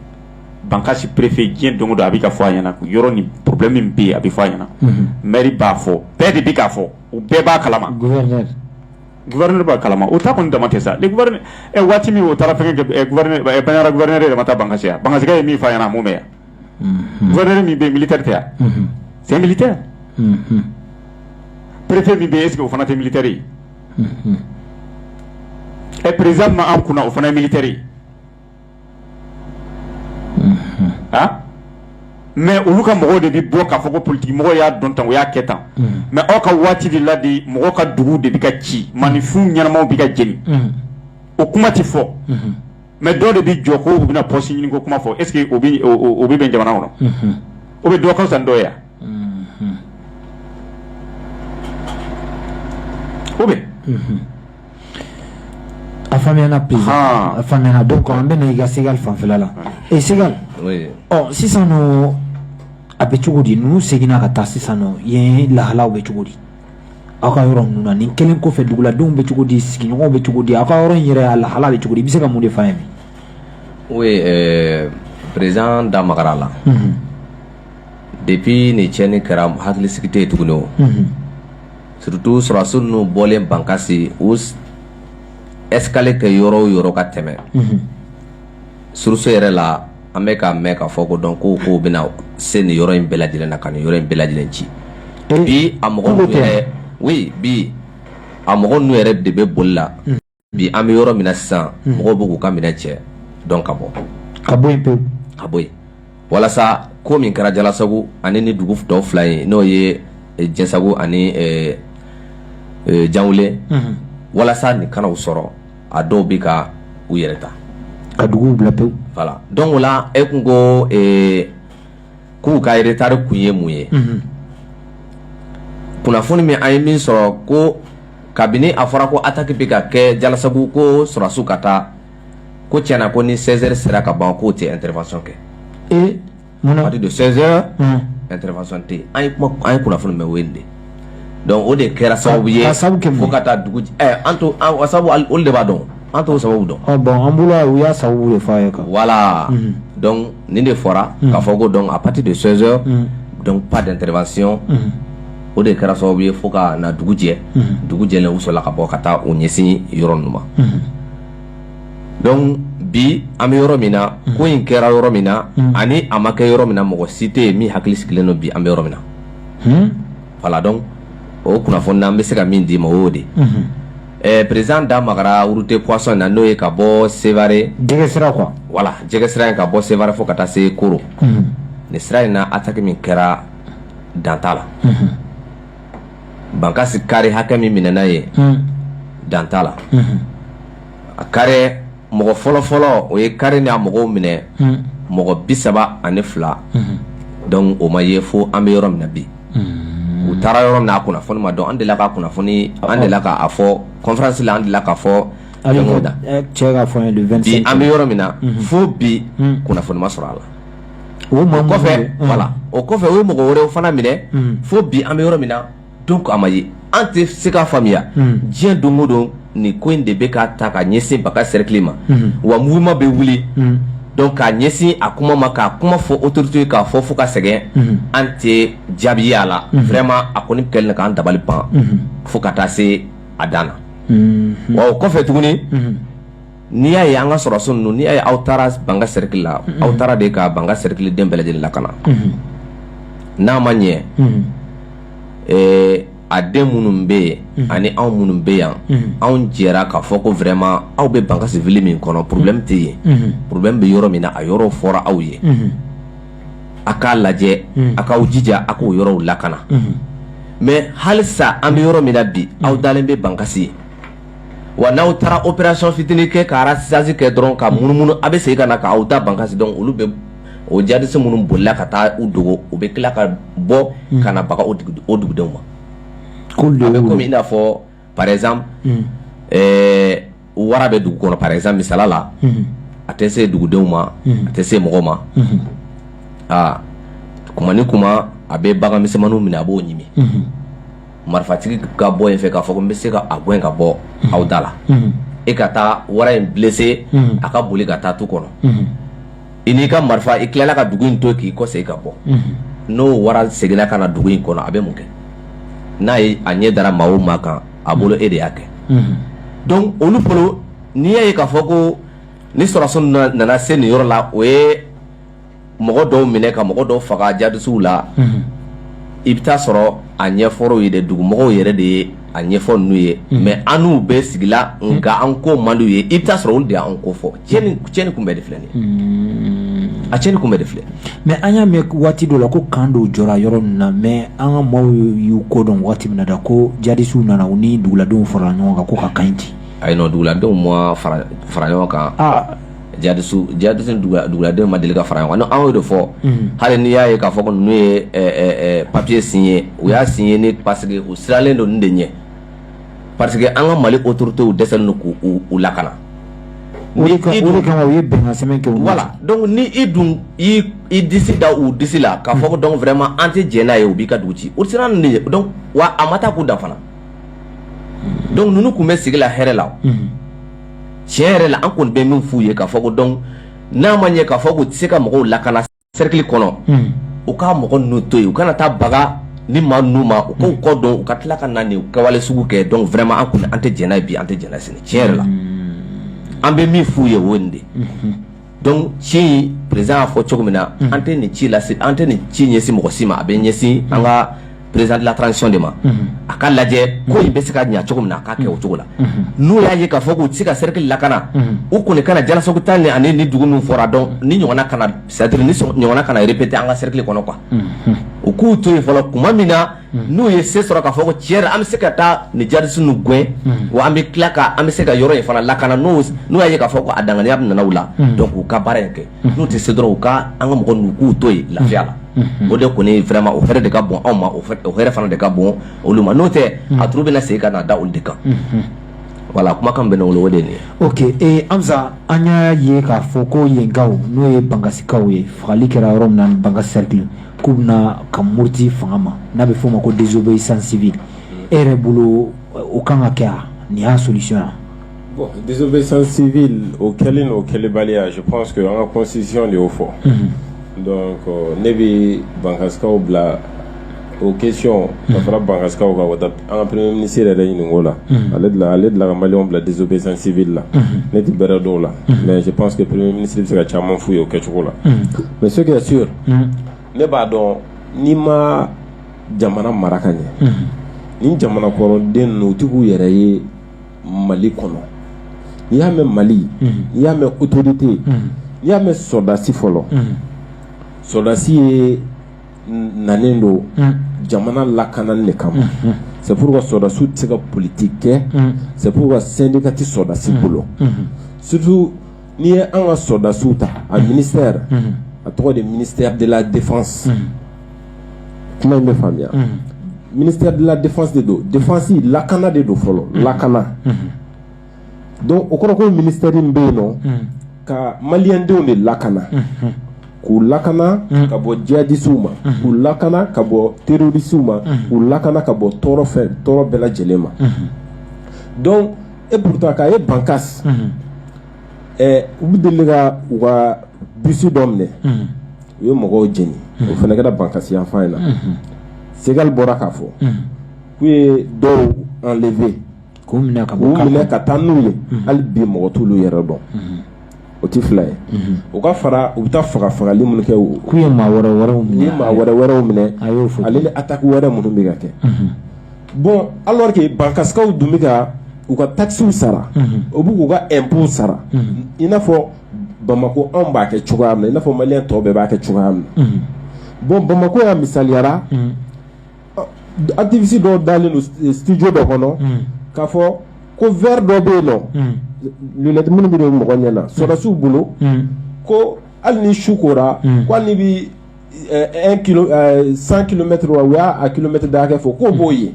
bankasi préfet diɲɛ don o don a bɛ ka fɔ a ɲɛna yɔrɔ nin problème bɛɛ a bɛ fɔ a ɲɛna maire b'a fɔ bɛɛ de bɛ k'a fɔ u bɛɛ b'a kalama gouverneur b'a kalama u ta kun dama tɛ sa waati min o taara banjagara gouverneur yɛrɛ ma taa bankasi wa bankasikaw ye min f'a ɲɛna a m'o mɛn wa gouverneur min bɛ yen militaire tɛ wa c'est un militaire préfet min bɛ yen est ce que o fana tɛ militaire ye ɛ président min b'an kunna o fana ye militaire ye a mais olu ka mɔgɔw de bɛ bɔ k'a fɔ ko politigimɔgɔ y'a dɔn tan o y'a kɛ tan mais aw ka waati de la de mɔgɔ ka dugu de bɛ ka ci maaninfin ɲɛnamaw bɛ ka jeni o kuma tɛ fɔ mais dɔw de bɛ jɔ ko bɛna pɔsi ɲini ko kuma fɔ est ce que o bɛ bɛn jamana kɔnɔ o bɛ dɔgɔ san dɔ yan o bɛ a fa bi a fa dɔw kɔ an bɛ i ka se fanfɛla la e se ɔ sisan a bɛ cogo di n'u seginna ka taa sisan yen lahalaw bɛ cogo di aw ka yɔrɔ ninnu na nin kelen kɔfɛ duguladenw bɛ cogo di sigiɲɔgɔnw bɛ cogo di aw ka yɔrɔ in yɛrɛ a lahala bɛ cogo di i bɛ se ka mun de f'an ye bi. oui euh, président da magara la. Mm -hmm. depuis nin tiɲɛni kɛra hakilisigi tɛ yen tuguni o. Mm -hmm. surtout sɔrɔdasi ninnu bɔlen bankasi u ye escale kɛ yɔrɔ o yɔrɔ ka tɛmɛ. Mm -hmm. suruso yɛrɛ la an bɛ ka mɛn ka fɔ ko donc ko k'u bɛna se nin yɔrɔ in bɛɛ lajɛlen na ka nin yɔrɔ in bɛɛ lajɛlen ci bi a mɔgɔ yɛrɛ wuli bi a mɔgɔ ninnu yɛrɛ de bɛ boli la hmm. bi an bɛ yɔrɔ min na sisan hmm. mɔgɔw bɛ k'u ka minɛn cɛ donc ka bɔ ka bɔ yen pewu ka bɔ yen walasa ko min kɛra jalasago ani ni dugu tɔw fila ye n'o ye eh, jɛsago ani eh, eh, janweli hmm. walasa nin kana u sɔrɔ a dɔw bɛ ka u yɛrɛ ta ka dugu bila pewu donc o la e tun ko k'u ka retard kun ye mun ye kunnafoni min an ye min sɔrɔ ko kabini a fɔra ko attaque bɛ ka kɛ jalasagu ko sɔrɔdasiw ka taa ko tiɲɛna ko ni seize heures sera ka ban k'u tɛ intervention kɛ Munna de sɛɛn tɛfasan tɛ an ye kunnafoni bɛ wele de dɔnku o de kɛra sababu ye fo ka taa dugu an to de b'a dɔn an to sababu dɔn an bolo u y'a sababu fa ye wala ni de fɔra ka fɔ ko dɔn a pati de sɛɛn dɔn pa dɛsɛrefasiyɔn o de kɛra sababu ye fo ka na dugu jɛ dugu jɛ u sɔrɔ ka bɔ ka taa u ɲɛsin yɔrɔ ma donc bi an bɛ yɔrɔ min na ko in kɛra yɔrɔ min na ani a ma kɛ yɔrɔ min mɔgɔ si tɛ min hakili sigilen don bi an bɛ yɔrɔ min na voilà donc o kunnafoni na n bɛ se ka min d'i ma o de ɛ président da magara route poisson na n'o ye ka bɔ sevare voilà jɛgɛ sira in ka bɔ sevare fo ka taa se koro nin sira in na attaque min kɛra dan t'a la bankasi kari hakɛ min minɛna yen hmm. dan t'a la hmm. a kari mɔgɔ fɔlɔfɔlɔ o ye kari ni a mɔgɔw minɛ hmm. mɔgɔ bi saba ani fila donc o ma ye fo an bɛ yɔrɔ min na bi u taara yɔrɔ min na a kunnafoni ma dɔn an delila ka kunnafoni an delila k'a fɔ conférence la an delila k'a fɔ fɛnkɛw da eh, cɛ ka fɔ an ye le 25 bi an bɛ yɔrɔ min na fo bi kunnafoni ma sɔrɔ a la o ma kɔfɛ o kɔfɛ o ye mɔgɔ wɛrɛw fana minɛ fo bi an bɛ yɔrɔ min na donc a ma ye an tɛ se k'a faamuya diɲɛ don o don nin ko in de bɛ ka taa ka ɲɛsin bankasi serikili ma wa maa bɛ wuli donc k'a ɲɛsin a kuma ma k'a kuma fɔ autoritéw ye k'a fɔ fo ka sɛgɛn an tɛ jaabi ye a la vraiment a kɔni kɛlen k'an dabali ban fo ka taa se a dan na wa o kɔfɛ tuguni n'i y'a ye an ka sɔrɔdasi ninnu n'i y'a ye aw taara bankasi serikili la aw taara de ka bankasi serikiliden bɛɛ lajɛlen lakana n'a ma ɲɛ a den minnu bɛ yen ani anw minnu bɛ yan anw jɛra k'a fɔ ko vraiment aw bɛ bankasi ville min kɔnɔ problème tɛ yen problème bɛ yɔrɔ min na a yɔrɔw fɔra aw ye a k'a lajɛ a k'aw jija a k'o yɔrɔw lakana mais halisa an bɛ yɔrɔ min na bi aw dalen bɛ bankasi wa n'aw taara opération fitinin kɛ ka ratissage kɛ dɔrɔn ka munumunu a bɛ segin ka na k'aw da bankasi donc olu bɛ o djihadistes minnu bolila ka taa u dogo u bɛ tila ka bɔ ka na baga o dugudenw ma ko bɛ i n'a fɔ par exemple wara bɛ dugu kɔnɔ par exemple misali la a tɛ se dugudenw ma a tɛ se mɔgɔ ma aa kuma ni kuma a bɛ bagan misɛnmannin minɛ a b'o ɲimi marifatigi ka bɔ yen fɛ k'a fɔ n bɛ se ka a gɛn ka bɔ aw da la e ka taa wara in blessé a ka boli ka taa tu kɔnɔ i n'i ka marifa i tilala ka dugu in to k'i kɔ se ka bɔ n'o wara seginna ka na dugu in kɔnɔ a bɛ mun kɛ n'a ye a ɲɛ dara maa o maa kan a bolo e de y'a kɛ donc olu bolo n'i y'a ye k'a fɔ ko ni sɔrɔdasiw nana se nin yɔrɔ la o ye mɔgɔ dɔw minɛ ka mɔgɔ dɔw faga jadisiw la i bɛ taa sɔrɔ a ɲɛfɔra u ye dɛ dugumɔgɔw yɛrɛ de ye a ɲɛfɔ ninnu ye mais an n'u bɛ sigi la nka an ko man di u ye i bɛ taa sɔrɔ olu de an ko fɔ cɛnni kun bɛɛ de filɛ a cɛnni kun bɛɛ de filɛ mais an y'a mɛn waati dɔ la ko kan dɔw jɔra yɔrɔ minnu na mais an ka maaw y'u kɔ don waati min na ko jadisiw nana u ni duguladenw farala ɲɔgɔn kan ko ka kan ci ayi duguladenw ma fara ɲɔgɔn kan jadisiw jadisiw ni duguladenw ma deli ka fara ɲɔgɔn kan anw y'o de fɔ hali n'i y'a ye k'a fɔ ko ninnu ye papiye signer u y'a signer ni parce que u siralen don nin de ɲɛ parce que an ka mali autorités dɛsɛlen don k'u u lakana o de kama u ye bɛnkansɛbɛn kɛ voilà donc ni i dun i i disi da u disi la k'a fɔ ko donc vraiment an tɛ jɛ n'a ye u b'i ka dugu ci o siran ninnu de ye donc wa a ma taa k'u dan fana donc ninnu tun bɛ sigi la hɛrɛ la tiɲɛ yɛrɛ la an kɔni bɛ min f'u ye k'a fɔ ko donc n'a mana ye k'a fɔ k'u tɛ se ka mɔgɔw lakana sɛrikili kɔnɔ u ka mɔgɔ ninnu to yen u kana taa baga nin maa ninnu ma u k'u kɔ don u ka tila ka na nin kɛwale sugu kɛ donc vraiment an kɔni an tɛ jɛ n'a ye bi an tɛ jɛ n'a ye sini tiɲɛ yɛrɛ la an bɛ min f'u ye o ye nin de donc ci président y'a fɔ cogo min na an tɛ nin ci lase an tɛ nin ci ɲɛsin mɔgɔ si ma a bɛ ɲɛsin an ka président de la transition de ma a ka lajɛ ko in bɛ se ka ɲɛ cogo min na a ka kɛ o cogo la n'u y'a ye k'a fɔ k'u tɛ se ka sɛrikili lakana u kɔni kana jalasagu ta nin ani nin dugu minnu fɔra donc nin ɲɔgɔn kana c'est-à-dire nin ɲɔgɔn kana yɛrɛ répéter an ka sɛrikili kɔnɔ que u k'u to yen fɔlɔ tuma min na n'u ye se sɔrɔ k'a fɔ ko tiɲɛ an bɛ se ka taa ni jadisi ninnu gɛn wa an bɛ tila ka an bɛ se ka yɔrɔ in fana lakana n'u y'a ye k'a fɔ ko a danganiya bɛ nana la donc u ka baara in kɛ n'u tɛ se dɔrɔn u ka an ka mɔgɔ ninnu k'u to yen lafiya la o de kɔni vraiment o hɛrɛ de ka bon anw ma o hɛrɛ fana de ka bon olu ma n'o tɛ a tɔɔrɔ bɛna se ka na da olu de kan voilà kumakan bɛ wolo o de ye ok ansa an y'a ye k'a fɔ ko yenkaw n'o ye bankasikaw ye fagali kɛra yɔrɔ min na bankasi sɛrikili k'u bɛna ka muruti fanga ma n'a bɛ f'o ma ko dɛsɛbe sansibi e yɛrɛ bolo o kan ka kɛ nin y'a sosɔn yan bɔn sansibi o kɛlen o kɛlenbaliya su an ka kɔsisi de y'o fɔ ne bɛ bankaw bila o kecɔn ka fara bankaw ka an ka ni sera yɛrɛ ɲini la ale ale dilan ka mali bila dɛsɛbe sansibi la ne tɛ bɛrɛ dɔw la mɛ pansseke pere mini bɛ se ka caman foyi ye o kɛcogo la mɛ se ka so ne b'a dɔn n'i ma jamana mara ka ɲɛ ni jamana kɔrɔden n otigiw yɛrɛ ye mali kɔnɔ n'i y'a mɛn mali n'i y'a mɛn autorité n'i y'a mɛn sɔrɔdasi fɔlɔ sɔrɔdasiya nanen don jamana lakanani de kama c'est pour ça sɔrɔdasiw tɛ se ka politigi kɛ c'est pour ça syndicat tɛ sɔrɔdasi bolo surtout n'i ye an ka sɔrɔdasiw ta a ministère a tɔgɔ de ministère de la défense kuma in bɛ faamuya ministère de la défense de don défense lakana de don fɔlɔ lakana donc o kɔrɔ ko ministère bɛ yen nɔ ka malidenw de lakana k'u lakana ka bɔ jihadisiw ma k'u lakana ka bɔ terɔrisiw ma k'u lakana ka bɔ tɔɔrɔ fɛ tɔɔrɔ bɛɛ lajɛlen ma et pourtant ka e bankasi u bɛ deli ka u ka bisi dɔ minɛ u ye mɔgɔw jeni o fana kɛra bankasi yanfan in na sekali bɔra k'a fɔ k'u ye dɔw enlever k'u minɛ ka ka taa n'u ye hali bi mɔgɔ t'olu yɔrɔ dɔn o tɛ fila ye o ka fara u bɛ taa faga fagali minnu kɛ o k'u ye maa wɛrɛ wɛrɛw minɛ ye maa wɛrɛ wɛrɛw minɛ a y'o fɔ ale ni ataki wɛrɛ minnu bɛ ka kɛ bɔn alors que bankaskaw dun bɛ ka u ka takisiw sara o bɛ k'u ka impôt sara i n'a fɔ bamakɔ anw b'a kɛ cogoya min na i n'a fɔ mali tɔ bɛɛ b'a kɛ cogoya min na bɔn bamakɔ y'a misaliyara Activiste dɔ dalen don studio dɔ kɔnɔ k'a fɔ ko verre dɔ bɛ yen nɔ lunettes minnu bɛ don mɔgɔ ɲɛ na sɔrɔdasiw bolo ko hali ni su kora bɛ cent kilomɛtɛ u y'a kilomɛtɛ da kɛ fɔ ko b'o ye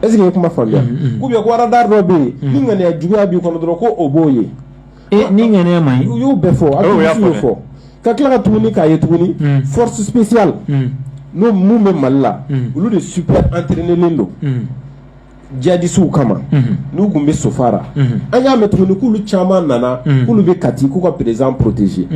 est-ce que e kuma faamuya k'u bɛ ko radar dɔ bɛ yen ni ŋaniya juguya b'i kɔnɔ dɔrɔn ko o b'o ye ee ni ŋaniya man ɲi u y'u bɛɛ fɔ a y'u y'u fɔ ka tila ka tuguni k'a ye tuguni hmm. force spéciale hmm. n'o minnu bɛ mali la hmm. olu de super entraînelen don jihadisiw kama n'u tun bɛ sofara an y'a mɛn tuguni k'olu caman nana k'olu bɛ kati k'u ka président protéger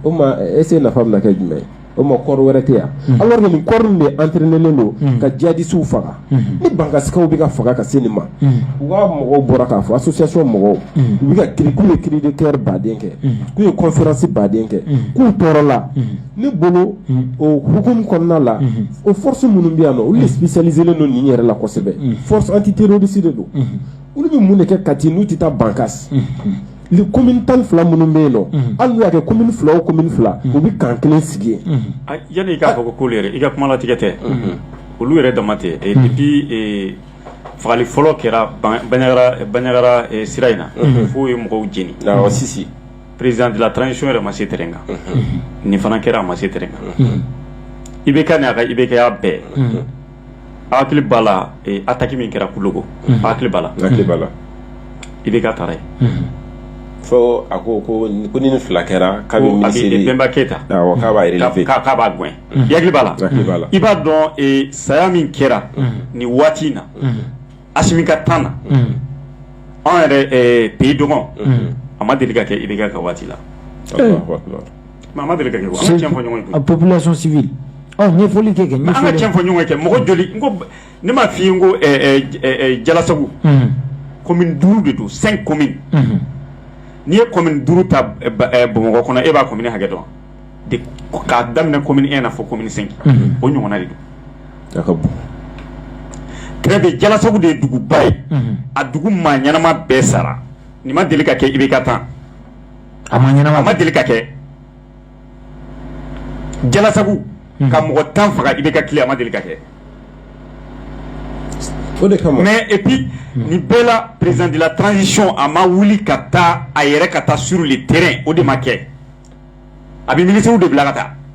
o ma est-ce nafa bɛna kɛ jumɛn ye o ma kɔrɔ wɛrɛ tɛ yan alors que nin corps de entraînelen don ka jihadisiw faga ni bankaskaw bɛ ka faga ka se nin ma u ka mɔgɔw bɔra k'a fɔ association mɔgɔw u bɛ k'u ye cri de cœur ba de kɛ k'u ye conférence ba de kɛ k'u tɔɔrɔla nin bolo o hukumu kɔnɔna la o forosi minnu bɛ yan na olu de spécialiselen don nin yɛrɛ la kosɛbɛ force antiterroriste de don olu bɛ mun de kɛ kati n'u tɛ taa bankasi ni commune tan ni fila minnu bɛ yen nɔ hali n'u y'a kɛ commune fila o commune fila u bɛ camp kelen sigi yen. A yani i k'a fɔ ko k'olu yɛrɛ i ka kuma latigɛ tɛ olu yɛrɛ dama tɛ et puis ee fagali fɔlɔ kɛra Bandiagara Bandiagara sira in na f'o ye mɔgɔw jeni awɔ Sisi président de la transition yɛrɛ ma se terrain kan nin fana kɛra a ma se terrain kan IBK n'a ka IBK ya bɛɛ. hakili b'a la attaque min kɛra Koulogon hakili b'a la IBK taara yen fo a ko ko ko ni fila kɛra ka Bemba Keyita k'a gɛn i hakili b'a la i b'a dɔn saya min kɛra ni waati in na Assimi ka temps na anw yɛrɛ pays dogon a ma deli ka kɛ IBK ka waati la A ma deli ka kɛ an ka cɛn fɔ ɲɔgɔn ye population civile ɲɛfɔli kɛ kɛ an ka cɛn fɔ ɲɔgɔn ye kɛ mɔgɔ joli ne m'a fɔ i n ko Jalasagu commune duuru de don cinq communes n'i ye commune duuru ta bamakɔ kɔnɔ e b'a commune hakɛ dɔn k'a daminɛ commune un na fo commune cinq o ɲɔgɔnna de don ka bon tile bɛ Jalasagu de ye duguba ye a dugu maa ɲɛnama bɛɛ sara nin ma deli ka kɛ IBK temps a ma ɲɛnama a ma deli ka kɛ jalasagu ka mɔgɔ tan faga IBK tile a ma deli ka kɛ o de kama mais et puis nin bɛɛ la président de la transition a ma wuli ka taa a yɛrɛ ka taa sur le terrain o de ma kɛ a bɛ ministres de bila ka taa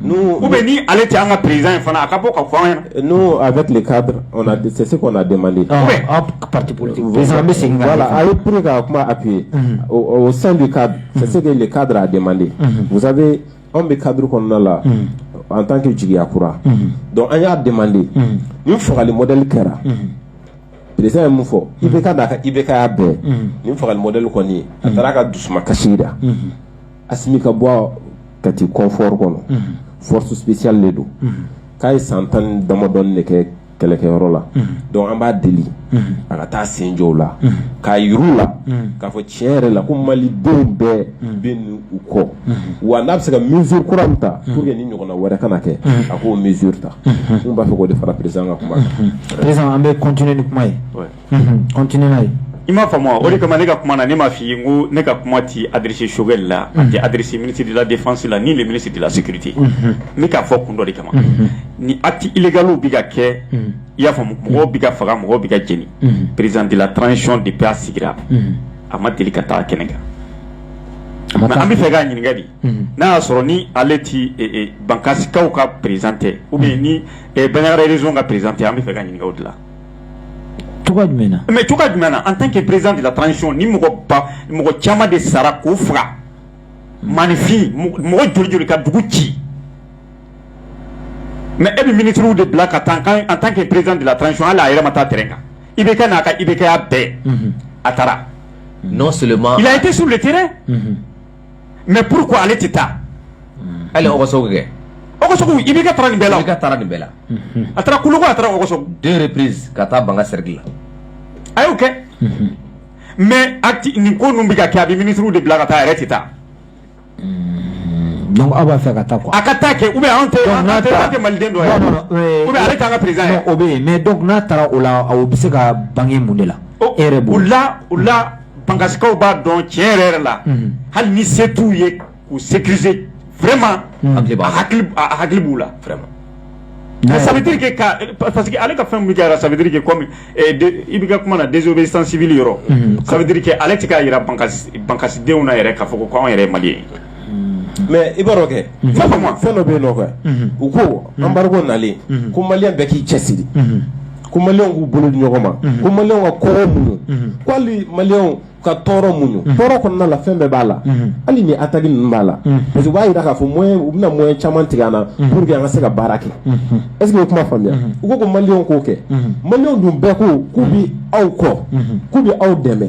U bɛ ni ale tɛ an ka perez in fana a ka bɔ ka fɔ an ye n'o a bɛ tile ka dɛsɛse se ka den mande pati bɛ segin la a ye p ka kuma a bi yen san bɛ ka se de ka a den mande musa anw bɛ kadi kɔnɔna la an tan kɛ jigiya kura dɔn an y'a den mande ni fagali mɔdli kɛra perez ye mun fɔ i bɛ ka da a kan i bɛ ka' bɛɛ ni fagali mɔdli kɔni ye a taara' ka dusu kasi da Assimi ka bɔ Kati confort kɔnɔ force spéciale de don k'a ye san tan ni damadɔ de kɛ kɛlɛkɛyɔrɔ la donc an b'a deli a ka taa sen jɔw la ka yɔrɔw la k'a fɔ cɛn yɛrɛ la ko mali denw bɛɛ bɛ u kɔ wa n'a bɛ se ka mesure kura min ta pour que nin ɲɔgɔnna wɛrɛ kana kɛ a k'o mesure ta n b'a fɛ k'o de fara président ka kuma an bɛ continuer ni kuma ye ye i m'a faamu o de kama ne ka kuma na ne m'a f'i ye n ko ne ka kuma tɛ adressé Choguel la a tɛ adressé ministre de la défense la ni le ministre de la sécurité n bɛ k'a fɔ kun dɔ de kama nin actes illégaux bɛ ka kɛ i y'a faamu mɔgɔw bɛ ka faga mɔgɔw bɛ ka jeni président de la transition depuis a sigira a ma deli ka taa kɛnɛ kan mais an bɛ fɛ k'a ɲininka de n'a y'a sɔrɔ ni ale tɛ Bankasikaw ka président tɛ ou bien ni Bandiagara region ka président tɛ an bɛ fɛ ka ɲininka o de la. tu jumɛn jumɛn an tan ke perez de la tan sɔn ni mɔgɔ mɔgɔ caman de sara ko faga mainfin mɔgɔ joli ka dugu ci mɛ e bɛ miniuru de bila ka taa kan an tan ke perez de la tan sɔn ala a yɛrɛ taa tɛ kan i bɛ kɛ n'a ka i bɛ kɛya bɛɛ a taara n' siri i tɛ su tɛ mais pourquoi ale tɛ taa ale kɛ i bɛ nin bɛɛ la IBK taara nin bɛɛ la a taara Koulogon a taara Ogossagou ka taa ban seri la a y'o kɛ mais a nin ko ninnu bɛ ka kɛ a bɛ ministrew de bila ka taa a yɛrɛ tɛ taa aw b'a fɛ ka taa a ka taa kɛ anw tɛ maliden dɔ ale tɛ an ka président o bɛ yen mais n'a taara o la o bɛ se ka bange mun de la la la Bankasikaw b'a dɔn tiɲɛ yɛrɛ yɛrɛ la hali ni se t'u ye k'u sécuriser vraiment a hakili b'u la ça veut dire parce que ale ka fɛn kɛra ça veut dire que comme i bɛ ka kuma na désobéissance civile yɔrɔ ça veut dire que ale tɛ k'a jira bankasidenw na yɛrɛ k'a fɔ ko anw yɛrɛ maliens ye mais i b'a kɛ fɛn dɔ bɛ yen nɔfɛ u ko embargo nalen ko maliens bɛɛ k'i cɛ siri ko maliens k'u bolo di ɲɔgɔn ma ko maliens ka ko muɲu ko hali maliens ka tɔɔrɔ muɲu tɔɔrɔ kɔnɔna la fɛn bɛɛ b'a la hali ni attaque ninnu b'a la parce que u y'a jira k'a fɔ u bɛna moyen caman tigɛ an na pour que an kana se ka baara kɛ est-ce que e ye kuma faamuya u ko ko maliens k'o kɛ maliens dun bɛɛ ko k'u bɛ aw kɔ k'u bɛ aw dɛmɛ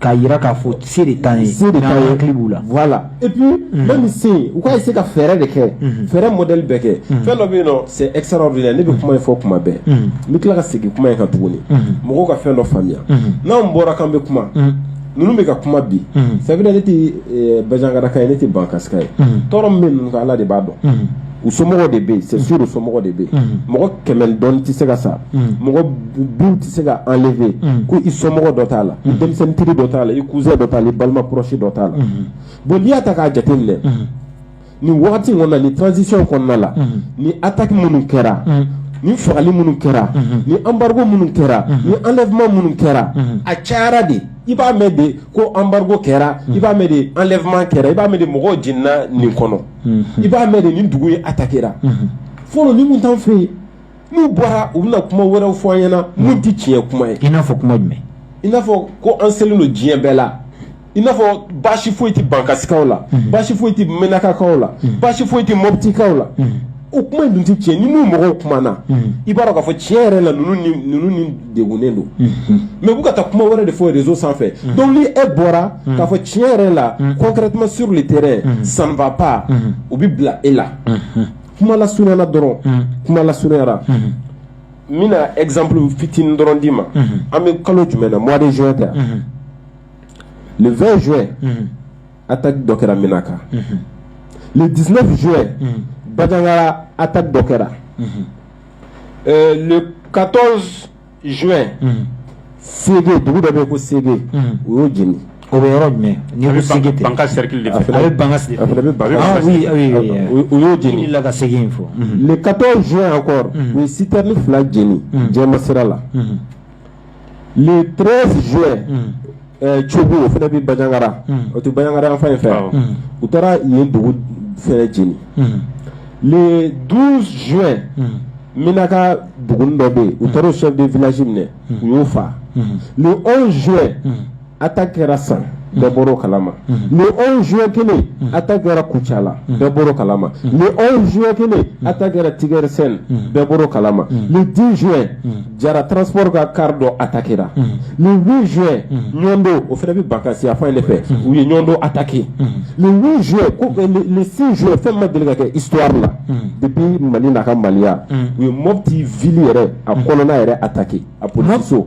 K'a jira k'a fɔ se de t'an ye se de t'an ye hakili b'u la voilà et puis mhm. même si u ka essayer ka fɛɛrɛ de kɛ mhm. fɛɛrɛ modèle bɛɛ kɛ mhm. fɛn dɔ bɛ yen nɔ c'est extraordinaire ne bɛ kuma in fɔ kuma bɛɛ n bɛ tila ka segin kuma in kan tuguni mɔgɔw ka fɛn dɔ faamuya n'anw bɔra k'an bɛ kuma ninnu bɛ ka kuma bi c'est vrai ne tɛ eh, banjagaraka ye ne tɛ bankasika ye tɔɔrɔ min bɛ ninnu kan Ala de b'a dɔn u somɔgɔw de bɛ yen c'est sûr u somɔgɔw de bɛ yen mhm. mɔgɔ kɛmɛ dɔɔni tɛ se ka sa mhm. mɔgɔ biw tɛ se ka enlever mhm. ko i somɔgɔ dɔ t'a la i denmisɛnnin teri dɔ t'a la i cousin dɔ t'a la i balima proche dɔ t'a la bon n'i y'a ta k'a jateminɛ nin wagati in kɔnɔna nin transition kɔnɔna la ni attaque minnu kɛra ni fagali minnu kɛra ni embargo minnu kɛra ni enlèvement minnu kɛra a cayara de i b'a mɛn de ko embargo kɛra i b'a mɛn de enlèvement kɛra i b'a mɛn de mɔgɔw jenina nin kɔnɔ i b'a mɛn de nin dugu in attaquéra fɔlɔ ni minnu t'an fɛ yen n'u bɔra u bɛna kuma wɛrɛw fɔ an ɲɛna minnu tɛ tiɲɛ kuma ye i n'a fɔ kuma jumɛn i n'a fɔ ko an selen don diɲɛ bɛɛ la i n'a fɔ baasi foyi tɛ bankasikaw la baasi foyi tɛ menakakaw la baasi foyi tɛ mɔbitikaw la o kuma in dun tɛ tiɲɛ ni ninnu mɔgɔw kumana i b'a dɔn k'a fɔ tiɲɛ yɛrɛ la ninnu ni ninnu ni degunnen don mais u bɛ ka taa kuma wɛrɛ de fɔ réseau sanfɛ donc ni e bɔra k'a fɔ tiɲɛ yɛrɛ la concrètement sur le terrain ça ne va pas u bɛ bila e la kuma lasurunyana dɔrɔn kuma lasurunyara n bɛna exemple fitinin dɔrɔn d'i ma an bɛ kalo jumɛn na mois de juin tɛ le 20 juin A ta dɔ kɛra min kan le diinɛ bɛ jo bajayara a ta dɔ kɛra katɔ z se dugu dɔ bɛ ko se o y'o jeni o bɛ yɔrɔ jumɛn de bɛ u y'o jeni la ka segin in fɔ katɔ z kɔrɔ u ye sita ni fila jeni jɛ ma sira la le 13 juin cogo o fana bɛ bajangara o tɛ bajangara yan fan in fɛ u taara yen dugu fana jeni le 12 juin minaka dugu dɔ bɛ yen u taara o chef de village minɛ u y'o faa le 11 juin attaque kɛra san bɛɛ bɔra kalama le 11 juin kelen attaque kɛra kucala bɛɛ bɔra kalama le 11 juin kelen attaque kɛra tigɛrisɛn bɛɛ bɔra kalama le 10 juin jara transport ka car dɔ attaquéra le 8 juin ɲɔndo o fana bɛ bankasi a fan de fɛ u ye ɲɔndo attaqué le 8 juin ko le 6 juin fɛn ma deli ka kɛ histoire la depuis mali n'a ka maliya u ye mɔpti ville yɛrɛ a kɔnɔna yɛrɛ attaqué a poliso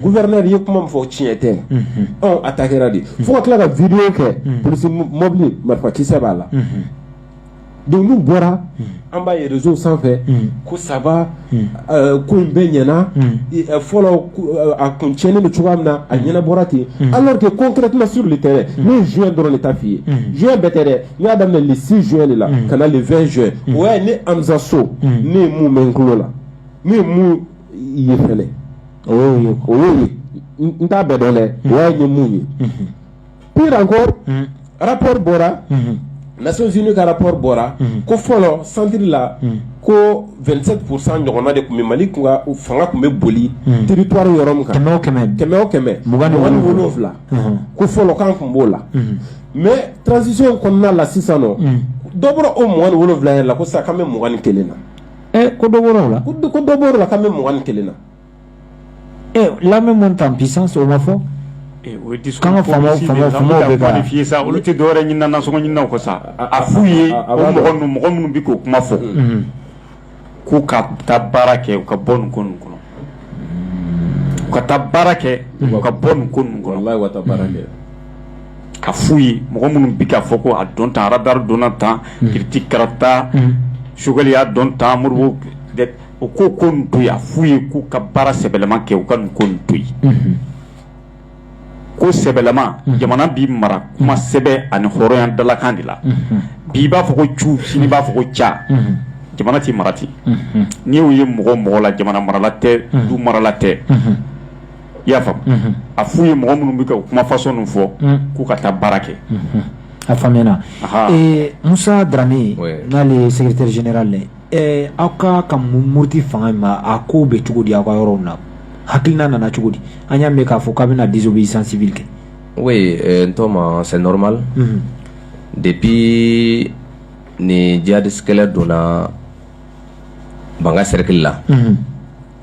gouverneur ye kuma min fɔ tiɲɛ tɛ ɔ attaque kɛra de fo ka tila ka video kɛ polisi mɔbili marifakisɛ b'a la donc n'u bɔra an b'a ye réseau sanfɛ ko ça va ko in bɛɛ ɲɛna fɔlɔ a kun tiɲɛnen bɛ cogoya min na a ɲɛnabɔra ten alors que concrètement sur le terrain ne ye juin dɔrɔn de ta f'i ye juin bɛɛ tɛ dɛ n y'a daminɛ le 6 juin de la ka na le 20 juin o y'a ye ne Amza So ne ye mun mɛn n tulo la ne ye mun i ye fɛlɛ o y'o ye o y'o ye n- n t'a bɛɛ dɔn dɛ o y'a ye mun ye pire encore rapport bɔra Nations Unies ka rapport bɔra ko fɔlɔ centre la ko 27 pourcent ɲɔgɔnna de tun bɛ Mali kun ka fanga tun bɛ boli territoire yɔrɔ min kan kɛmɛ o kɛmɛ kɛmɛ o kɛmɛ Mugan ni wolonwula. wolonwula Mhm. ko fɔlɔ k'an tun b'o la mais transition kɔnɔna la sisan nɔ dɔ bɔra o mugan ni wolonwula yɛrɛ la ko sisan k'an bɛ mugan ni kelen na ɛ ko dɔ bɔra o la ko dɔ- ko dɔ bɔra o la k'an bɛ mugan ni kelen na ɛ l'armée monte en puissance o ma fɔ Eh, o ye discours K'an ka faamaw- politique de ye, faamaw- an faamaw bɛ bɛ ka ka- qualifier sa olu tɛ dɔwɛrɛ ɲinina nasɔngɔ ɲininaw kɔ sa a f'u ye a- a o b'a mɔgɔ dɔn. ninnu mɔgɔ minnu bɛ k'o kuma fɔ k'u ka taa baara kɛ u ka bɔ nin ko ninnu kɔnɔ u ka taa baara kɛ u ka bɔ nin ko ninnu kɔnɔ wallahi u ka taa baara kɛ a f'u ye mɔgɔ minnu bɛ k'a fɔ ko a don tan radar donna tan kiriti karata sogɛli y'a don tan moribo u k'o ko ninnu to yen a f'u ye k'u ka baara sɛbɛlama kɛ u ka nin ko ninnu to yen. ko sɛbɛlama jamana bɛ mara kuma sɛbɛ ani hɔrɔnya dalakan de la bi b'a fɔ ko cu sini b'a fɔ ko ca jamana tɛ mara ten n'i y'o ye mɔgɔ o mɔgɔ la jamana marala tɛ du marala tɛ i y'a faamu a f'u ye mɔgɔ minnu bɛ ka o kuma fasɔn ninnu fɔ k'u ka taa baara kɛ a faamuyana musa daramɛ n'ale ye secrétaire général Ɛɛ aw ka ka muruti fanga in ma a ko bɛ cogo di aw ka yɔrɔ na hakiliina nana cogo di an y'a mɛn k'a fɔ k'a bɛna désobéissance civile kɛ oui n tɔma c'est normal depuis nin jihadiste kɛlɛ donna bankasi sɛrikili la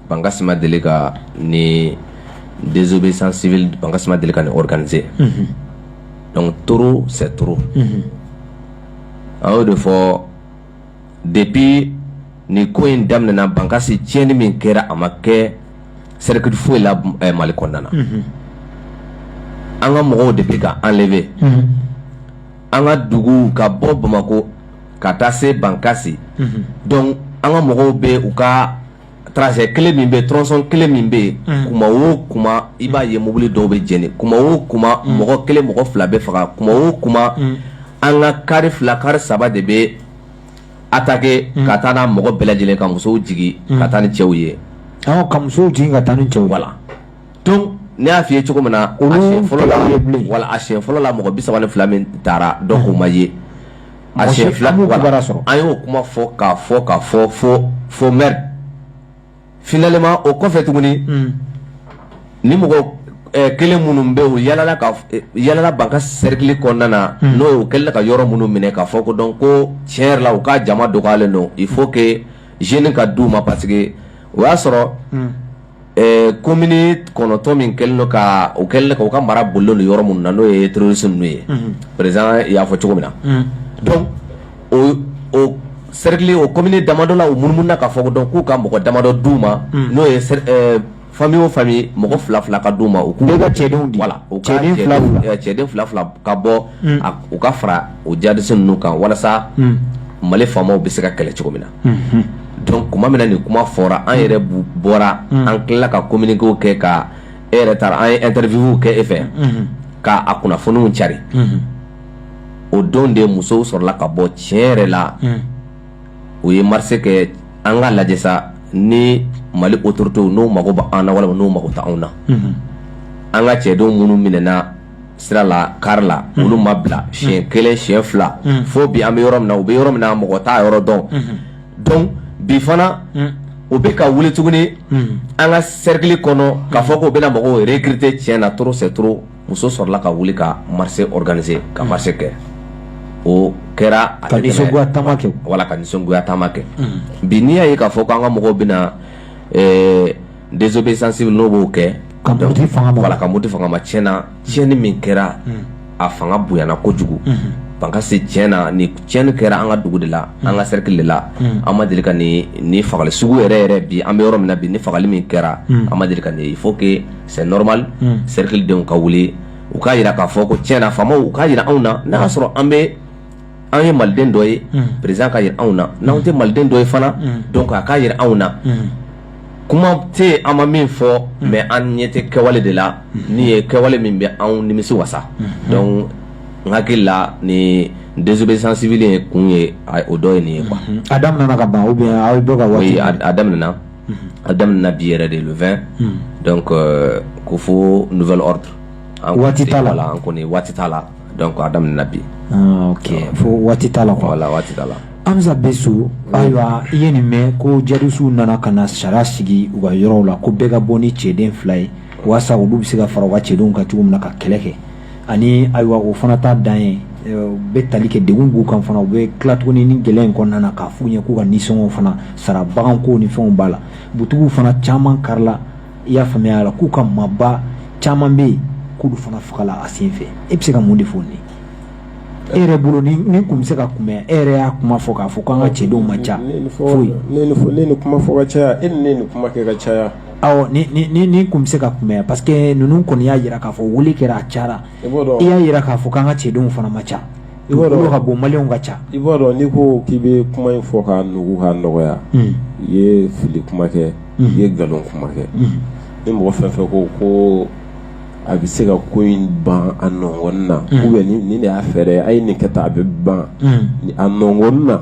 bankasi ma deli ka nin désobéissance civile bankasi ma deli ka nin organisé donc trop c'est trop an y'o de fɔ depuis nin ko in daminɛna bankasi tiɲɛni min kɛra a ma kɛ sɛrikili foyi la mali kɔnɔna na an ka mɔgɔw de bɛ ka enlevé an ka dugu ka bɔ bamakɔ ka taa se bankasi donc an ka mɔgɔw bɛ u ka Tronçon kelen min bɛ tronçon kelen min bɛ yen kuma o kuma i b'a ye mobili dɔw bɛ jeni kuma o kuma mɔgɔ kelen mɔgɔ fila bɛ faga kuma o kuma an ka kari fila kari saba de bɛ attaqué ka taa n'a mɔgɔ bɛɛ lajɛlen ka musow jigin ka taa ni cɛw ye ka muso jigin ka taa ni cɛw la donc ne y'a fɔ i ye cogo min na fɔlɔ voilà a fɔlɔ la mɔgɔ bisa fila min taara dɔw ma ye A siɲɛ fila an b'o voilà. kibaruya sɔrɔ. an y'o kuma fɔ k'a fɔ k'a fɔ fo fo mɛri finalement o kɔfɛ tuguni ni mɔgɔ eh, kelen minnu bɛ u yalala ka eh, yalala bankasi sɛrikili kɔnɔna na n'o ye u kɛlen ka yɔrɔ minnu minɛ k'a fɔ ko donc ko tiɲɛ yɛrɛ la u ka jama dɔgɔyalen don il faut que jeune ka d'u ma parce que o y'a sɔrɔ ɛɛ komini kɔnɔntɔn min kɛlen don ka u kɛlen ka u ka mara bolilen don yɔrɔ minnu na n'o ye terroriste ninnu ye président y'a fɔ cogo min na donc o o cercle o komini damadɔ la u munumununa k'a fɔ ko donc k'u ka mɔgɔ damadɔ d'u ma n'o ye cer- ɛɛ famille o famille mɔgɔ fila fila ka d'u ma u k'u Bɛɛ ka cɛdenw di. voilà u ka Cɛden fila fila. ɛɛ cɛden fila fila ka bɔ a- u ka fara o jihadiste ninnu kan walasa Mali FAMa bɛ se ka kɛlɛ cogo min na donc tuma min na nin kuma fɔra an yɛrɛ bɔra an tilala ka kominikew kɛ ka e yɛrɛ taara an ye interview kɛ e fɛ k'a a kunnafoniw cari o don de musow sɔrɔla ka bɔ tiɲɛ yɛrɛ la o ye marche kɛ an ka lajɛ sa ni mali autoritéw n'o mago bɛ an na walima n'o mago tɛ anw na an ka cɛdenw minnu minɛna sira la kari la olu ma bila si kelen si fila fo bi an bɛ yɔrɔ min na u bɛ yɔrɔ min na mɔgɔ t'u yɔrɔ dɔn donc bi fana u bɛ ka wuli tuguni an ka serikili kɔnɔ k'a fɔ k'u bɛna mɔgɔw recruter tiɲɛ na trop c'est trop musow sɔrɔla ka wuli ka se gananie ka marche kɛ o kɛra a kɛ wala ka nisɔngoya taama kɛ bi n'i y'a ye k'a fɔ k' an ka mɔgɔw bɛ désobéissance civile n'o b'o kɛ ka muruti fanga ma voilà ka muruti fanga ma tiɲɛ na tiɲɛni min kɛra a fanga bonyana kojugu bankasi tiɲɛ na ni tiɲɛni kɛra an ka dugu de la an ka cercle de la an ma deli ka ni ni fagali sugu yɛrɛ ye bi an bɛ yɔrɔ min na bi ni fagali min kɛra an ma deli ka ni il faut que c'est normal cercle denw ka wuli u k'a jira k'a fɔ ko tiɲɛ na faamaw u k'a jira anw na n'a y'a sɔrɔ an bɛ anw ye maliden dɔ ye preuve k'a jira anw na n'an tɛ maliden dɔ ye fana donc a k'a jira anw na kuma tɛ an ma min fɔ mais an ɲɛ tɛ kɛwale de la n' ye kɛwale min bɛ anw nimisi wasa donc n hakili la ni désobéissance civile ye kun ye o dɔ ye nin ye quoi a daminɛna ka ban bɛ aw ye ka wari a daminɛna a daminɛna bi yɛrɛ de le vingt donc ko fo nouvel ordre an kɔni waati t'a la donc a daminɛna bi ah, ok fo waati t'a la wala waati t'a la amisa besu ayiwa i ye nin mɛn ko jadisiw nana ka na sariya sigi u ka yɔrɔw la ko bɛɛ ka bɔ ni cɛden fila ye walasa olu bɛ se ka fara u ka cɛdenw kan cogo min na ka kɛlɛ kɛ ani ayiwa o fana t'a dan ye eh, u bɛ tali kɛ degun b'u kan fana u bɛ tila tuguni ni gɛlɛya in kɔnɔna na k'a f'u ɲɛ k'u ka nisɔngɔw fana sara baganko ni fɛnw b'a la butigiw fana caman karila i y'a faamuya la k'u ka maaba caman bɛ yen k'olu fana fagala a sen fɛ e bɛ se ka mun de fɔ nin e yɛrɛ bolo nin tun bɛ se ka kunbɛn e yɛrɛ y'a kuma fɔ k'a fɔ k'an ka cɛdenw ma ca foyi ne kuma fɔ ka caya e ni ne kuma kɛ ka caya aw nin tun bɛ se ka kunbɛn parce que ninnu kɔni y'a jira k'a fɔ weele kɛra a ca i y'a jira k'a fɔ k'an ka cɛdenw fana ma ca i b'a dɔn ka bon maliw ka ca i b'a dɔn n'i ko k'i bɛ kuma in fɔ ka nugu ka nɔgɔya hmm. i ye fili kuma kɛ hmm. i ye nkalon kuma kɛ hmm. ni mɔgɔ fɛn fɛn ko ko a bɛ se ka ko in ban a nɔgɔn na ou bien nin de y'a fɛɛrɛ a ye nin kɛ tan a bɛ ban a nɔgɔn na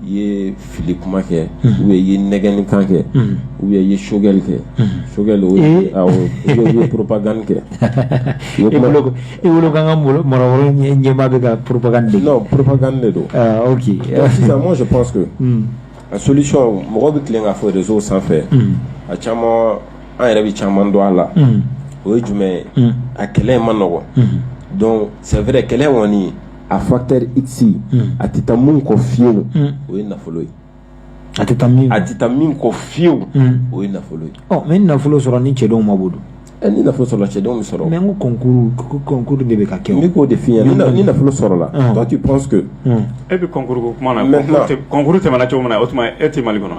i ye fili kuma kɛ u bɛ ye nɛgɛni kan kɛ u bɛ ye sokɛli kɛ sokɛ ye propagande kɛ i wolokan ɲɛba bɛ ka propagande propagande don moi je pense que solution mɔgɔ bɛ teli ka fɔ réseau sanfɛ a caman an yɛrɛ bɛ caman dɔn a la o ye jumɛn ye a kɛlɛ in man nɔgɔ donc c'est vrai kɛlɛ kɔni a facteur ici a tɛ taa min kɔ fiyewu o ye nafolo ye a tɛ a tɛ taa min kɔ fiyewu o ye nafolo ye ɔ mais nafolo sɔrɔ ni cɛdenw ma bolo ɛ ni nafolo sɔrɔ cɛdenw bɛ sɔrɔ mais n concours concours de bɛ ka kɛ n k'o de fɔ i ɲɛna ni nafolo sɔrɔla donc tu penses que e bɛ concours ko kuma na concours tɛmɛna cogo min na o tuma e tɛ mali kɔnɔ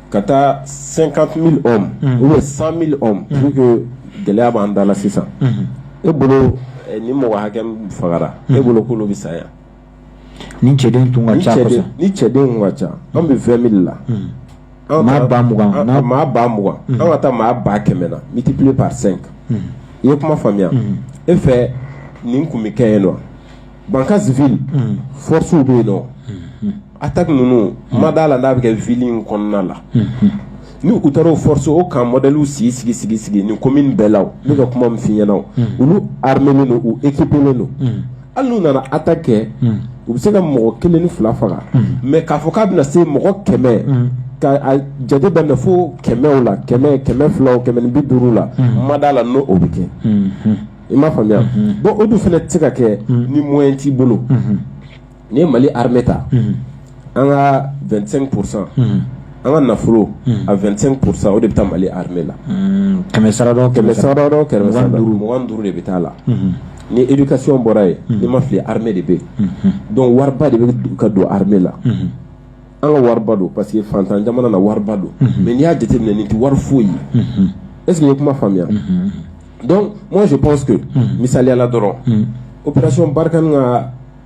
ka taa cinquante ou cent mille gɛlɛya b'an da sisan e bolo ni mɔgɔ hakɛ fagara e bolo kolo bɛ saya ni cɛdenw ka ca ni cɛ ka ca an bɛ vingt mille la maa ba mugan maa ba mugan an ka taa maa ba kɛmɛ na multiplier par cinq i ye kuma faamuya e fɛ nin kun bɛ kɛ ye nɔ Bankass ville forcew bɛ yen non Attaque ninnu ma d'a la n'a bɛ kɛ ville in kɔnɔna la ni u taara o forcew ka modèlew sigi sigi sigi sigi nin commune bɛɛ la n'u ka kuma min fɔ i ɲɛna olu armélen don u équipélen don hali n'u nana attaque kɛ u bɛ se ka mɔgɔ kelen ni fila faga mais k'a fɔ k'a bɛna se mɔgɔ kɛmɛ ka jateminɛ fo kɛmɛ la kɛmɛ kɛmɛ fila kɛmɛ bi duuru la ma d'a la n'o o bɛ kɛ i m'a faamuya bon o dun fana tɛ se ka kɛ ni moyen t'i bolo n'i ye Mali armée ta an ka 25 pour 100 an ka nafolo a 25 pour 100 o de bɛ taa Mali armée la kɛmɛ sara da o kɛmɛ sara da o kɛmɛ sara da o mugan ni duuru de bɛ taa a la ni éducation bɔra yen ni n ma fili armée de bɛ yen donc wariba de bɛ ka don armée la an ka wariba don parce que fantan jamana na wariba don mais n'i y'a jateminɛ nin tɛ wari foyi ye est ce que i ye kuma faamuya donc moi je pense que misali la dɔrɔn opération Barkhane ka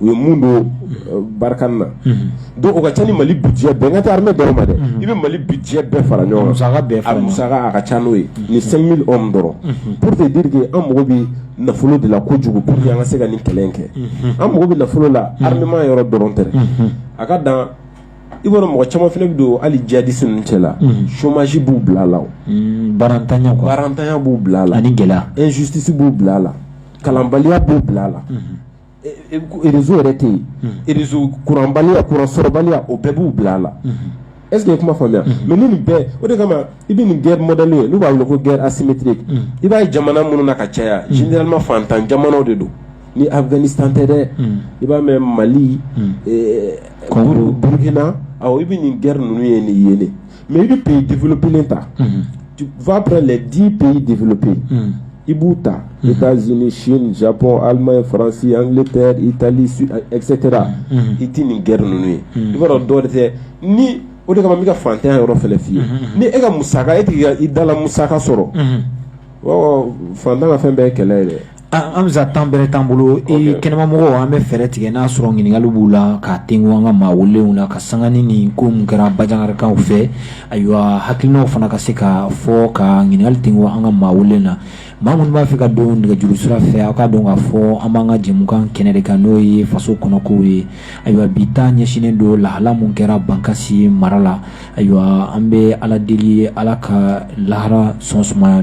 u ye min don euh, Barkhane na mhm. donc o ka ca ni mali budget bɛɛ n kan tɛ armée dɔrɔn ma dɛ mhm. i bɛ mali budget bɛɛ fara ɲɔgɔn kan musaka bɛɛ fara musaka a ka ca n'o ye mhm. ni 5000 hommes dɔrɔn pour te dire que an mago bɛ nafolo de la kojugu pour que an ka se ka nin kɛlɛ in kɛ an mago bɛ nafolo la armement yɔrɔ dɔrɔn tɛ a ka dan i b'a dɔn mɔgɔ caman fana bɛ don hali jihadisi ninnu cɛ la chômage b'u bila a la o baarantanya baarantanya b'u bila a la ani gɛlɛya injustice b'u bila a la kalanbaliya b'u bila a la réseau yɛrɛ tɛ sɔrɔ kuranbaliya kuransɔrɔbaliya o bɛɛ b'u bila a la ese ye kuma faamuya mais ni nin bɛɛ o de kama i bɛ nin guerre mɔdɛli ye n' b'a weele ko guerre asymétrique i b'a ye jamana minnu na ka caya généralement fantan jamana de don ni Afghanistan tɛ dɛ i b'a mɛn mali burukina i bɛ nin guerre ninnu ye nin ye mais i bɛ pays développélen ta va prendre les dix pays développés i b'u ta États-Unis Chine Japon Allemagne France Angleterre Italie etc i tɛ nin guerre ninnu ye i b'a dɔn dɔwɛrɛ tɛ ni o de kama n bɛ ka fantanya yɔrɔ fɛnɛ f'i ye ni e ka musaka e tɛ k'i ka i dala musaka sɔrɔ fantan ka fɛn bɛɛ ye kɛlɛ ye dɛ An bɛ temps bɛrɛ t'an bolo e kɛnɛmamɔgɔ an bɛ fɛɛrɛ tigɛ n'a sɔrɔ ɲininkali b'u la ka te an ka maa weelew la ka sanga ni ni ko kɛra bajankaw fɛ ayiwa hakilina fana ka se ka fɔ ka ɲininkali ten an ka maa weele na maa minnu b'a fɛ ka don nɛgɛjuru sira fɛ aw k'a dɔn k'a fɔ an b'an ka jɛkan kɛnɛ de kan n'o ye faso kɔnɔko ye ayiwa bi ta ɲɛsinnen don lahala min kɛra bankasi mara la ayiwa an bɛ ala deli ala ka lahara so suma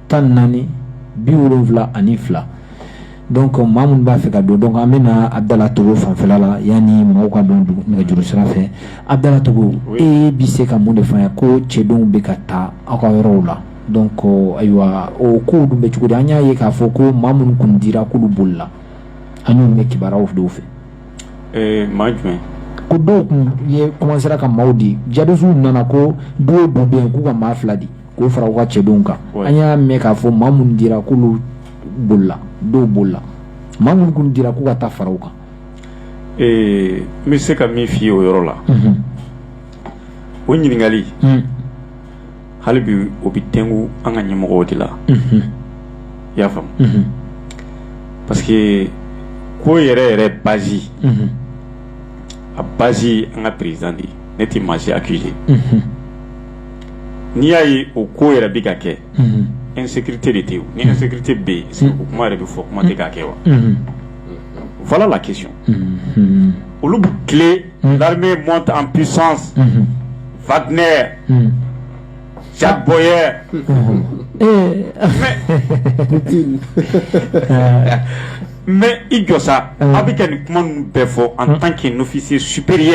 tan ni naani bi wolonwula ani fila don maa minnu b'a fɛ ka don donc an bɛna abudala togo fanfɛla la yanni mɔgɔw ka don nɛgɛjuru sira fɛ abudala togo e bɛ se ka mun de fɔ ko cɛdenw bɛ ka taa aw ka yɔrɔw la donc ayiwa o kow dun bɛ cogo di an y'a ye k'a fɔ ko maa minnu kun dira k'olu bolila an y'o mɛn kibaruyaw dɔw fɛ eh, maa jumɛn ko dɔw tun ye kɔmansera ka maaw di jihadisiw nana ko du o du bɛ yen k'u ka maa fila di k'o fara u ka cɛdenw kan Ouais. an y'a mɛn k'a fɔ maa minnu dira k'olu bolila dɔw bolila maa minnu kun dira k'u ka taa fara u kan Ee, n bɛ se ka min f'i ye o yɔrɔ la o ɲininkali Mhm. hali bi o bɛ tɛngu an ka ɲɛmɔgɔw de la Mhm. i y'a faamu Mhm. parce que ko yɛrɛ yɛrɛ bazi Mhm. a bazi ye an ka président de ye ne tɛ maa si accuser Mhm. n'i y'a ye o ko yɛrɛ bɛ ka kɛ e sete de tɛ ni sete bɛ yen segu kuma yɛrɛ bɛ fɔ kuma tɛ ka kɛ wa fa la kisu olu bɛ tile mɔn an psɔn fatinɛ jabɔyɛ mɛ i jɔ sa a bɛ kɛ nin kuma bɛɛ fɔ an tan kɛ nɔfisi supri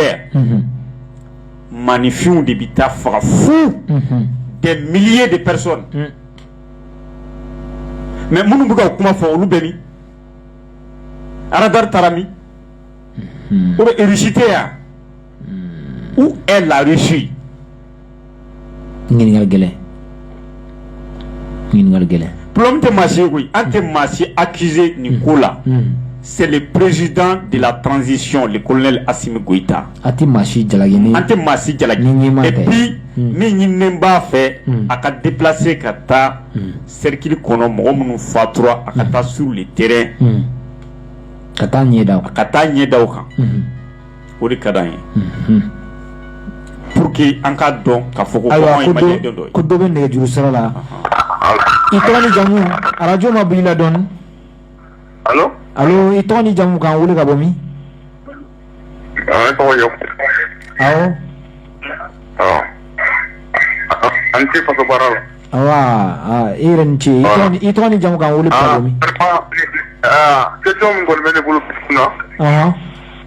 maaninfinw de bɛ taa faga fu des milliers de personnes mais minnu bɛ k'o kuma fɔ olu bɛ min aradari taara min o bɛsite yan où est la Russie ɲininkali gɛlɛn gɛlɛn bulon tɛ maa koyi an tɛ maa si akize nin ko la c'est le président de la transition le colonel asimi goita an tɛ maa si jala an tɛ maa si jalaki et puis min ɲininen b'a fɛ a ka déplacer ka taa sɛrikili kɔnɔ mɔgɔ minnu fatura a ka taa sur le terrain ka taa ɲɛ ka taa ɲɛda kan o de ka di an ye pour que an k'a dɔn ka fɔ ko kɔngɔ in ma diya den dɔ ye ko dɔ bɛ nɛgɛjuru sira la i tɔgɔ ni jamu arajo mabɔ i la dɔɔni alo alo i tɔgɔ ni jamu k'an wele ka bɔ min n tɔgɔ ye awɔ an tɛ faso baara la awa i yɛrɛ ni ce i tɔgɔ ni i tɔgɔ ni jamu k'an wele ka bɔ min question min kɔni bɛ ne bolo kunna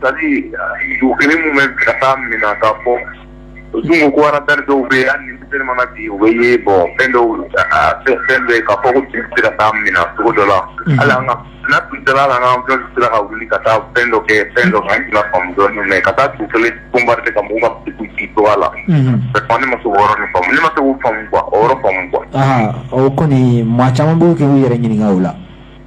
C'est à dire u kelen minnu bɛ ka taa min na ka fɔ sun ko aradari dɔw bɛ yan ni teri mana bi u bɛ ye bɔ fɛn dɔw fɛn fɛn bɛ ka fɔ sera ka taa min na sogo dɔ la ala an ka tun dala la an ka sira ka wuli ka taa fɛn dɔ kɛ fɛn dɔ an tila fan dɔ ka taa tu kelen kunba ka mun ka ci to la ne ma se k'o yɔrɔ ninnu faamu ne ma se k'o faamu quoi o yɔrɔ faamu quoi o kɔni maa caman bɛ ka u yɛrɛ ɲininka o la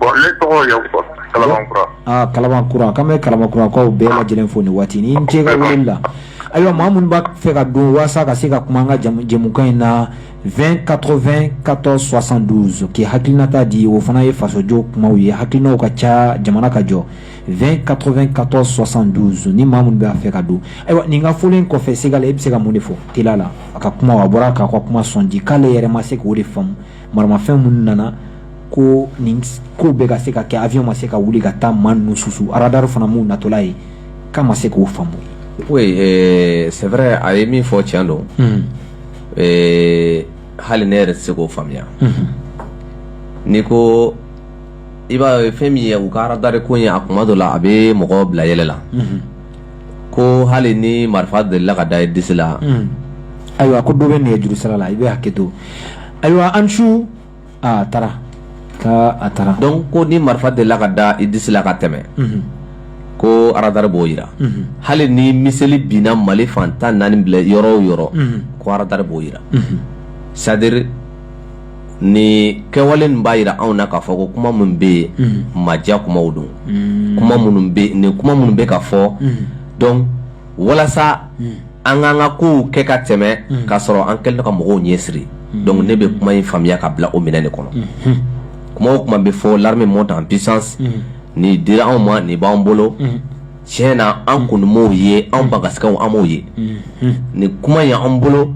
Bɔn ne tɔgɔ ye fɔ kalakura aa kalakura ka bɛ kalakɔrɔkaw bɛɛ lajɛlen fo i ni waati i ni ce ka wele la ayiwa maa minnu b'a fɛ ka don walasasa ka se ka kuma an ka jɛmukan in na vɛn katɔ2 katɔ sɔsan donso k'i hakilinata di o fana ye fasojɔ kuma ye hakilina ka ca jamana ka jɔ v katɔ2 katɔ sɔsan donso ni maa minnu b'a fɛ ka don ayiwa n ka foli in kɔfɛ se e bɛ se ka mun de fɔ t la a ka kuma a bɔra k'a ka kuma c'est à dire k'ale yɛrɛ ma se k'o de faamu maramafɛn minnu nana ko nin kow bɛɛ ka se ka kɛ avion ma se ka wuli ka taa maa ninnu susu radar fana m'u natɔla ye k'a ma se k'o faamu oui euh, c'est vrai a ye min fɔ tiɲɛ don hmm. euh, hali ne yɛrɛ tɛ se k'o faamuya hmm. n'i ko i b'a ye fɛn min ye u ka radar ko in ye a kuma dɔ la a bɛ mɔgɔ bila yɛlɛ la hmm. ko hali ni marifa delila ka da i disi la ayiwa ko dɔ bɛ nɛgɛjuru sira la i bɛ hakɛ to ayiwa an su a taara ka a taara donc ko ni marifa delila ka da i disi la ka tɛmɛ ko aradari b'o yira hali ni miseli binna mali fan tan naani binna yɔrɔ o yɔrɔ ko aradari b'o yira c'est à dire nin kɛwale ninnu b'a jira anw na k'a fɔ ko kuma minnu bɛ yen mm. maja kumaw don mm. kuma minnu nin kuma minnu bɛ ka fɔ mm. donc walasa an k'an ka kow kɛ ka tɛmɛ k'a sɔrɔ an kɛlen ka mɔgɔw ɲɛ siri donc ne bɛ kuma in faamuya ka bila o minɛn de kɔnɔ mm-hmm. kuma o kuma bɛ fɔ l'armée monte en puissance nin dira anw ma nin b'an bolo tiɲɛ na an kun m'o ye an bagasikaw an m'o ye ni kuma ye an bolo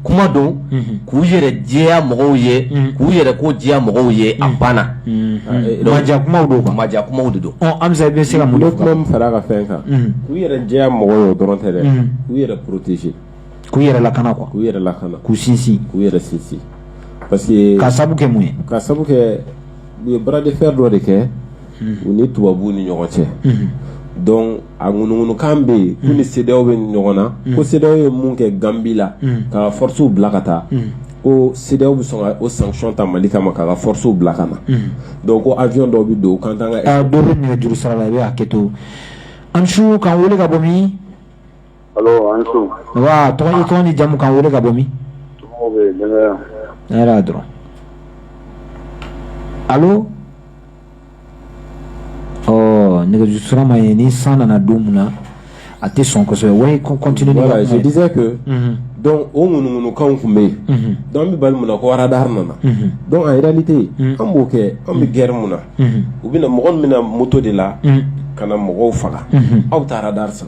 kuma don k'u yɛrɛ jɛya mɔgɔw ye k'u yɛrɛ ko jɛya mɔgɔw ye a banna maja kumaw don ka maja kumaw de don an bɛ bɛ se ka mun kuma min fara ka fɛn kan k'u yɛrɛ jɛya mɔgɔw ye dɔrɔn tɛ dɛ k'u yɛrɛ protéger k'u yɛrɛ lakana quoi k'u yɛrɛ lakana k'u sinsin k'u yɛrɛ sinsin parce que ka sabu kɛ mun ye ka sabu kɛ u ye bras de fer dɔ de kɛ u ni tubabu ni ɲɔgɔn cɛ donc a ŋunuŋunukan bɛ yen u ni CEDEAO bɛ ɲɔgɔn na ko CEDEAO ye mun kɛ ganbi la ka forcew bila ka taa ko CEDEAO bɛ sɔn ka sanction ta mali kama ka ka forcew bila ka na donc ko avion dɔw bɛ don kan juru sira la i bɛ'a kɛ to an su ka wele ka bɔ min tɔgɔ ni jamu ka wele ka bɔ min alo nɛgɛjuru sira ma ɲɛ ni san nana don min na a tɛ sɔn kosɛbɛ continue je disais que donc o ŋunuŋunukan tun bɛ yen donc an bɛ bali mun na ko radar nana donc en réalité an b'o kɛ an bɛ gɛrɛ mun na u bɛna mɔgɔ minnu bɛ na moto de la ka na mɔgɔw faga aw ye taa radar san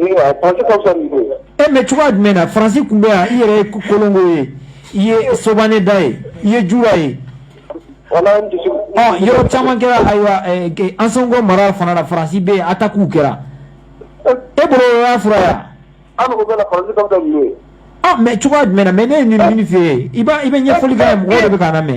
E mais cogoya jumɛn na faransi tun bɛ yan i yɛrɛ ye kolongo ye i ye sobane da ye i ye jura ye yɔrɔ caman kɛra ayiwa ansongo mara fana na faransi bɛ attaquew kɛra e y'a fɔra yan mais cogoya jumɛn mais ne ye nin min fɛ yen i i bɛ ɲɛfɔli kɛ mɔgɔw de bɛ k'an lamɛn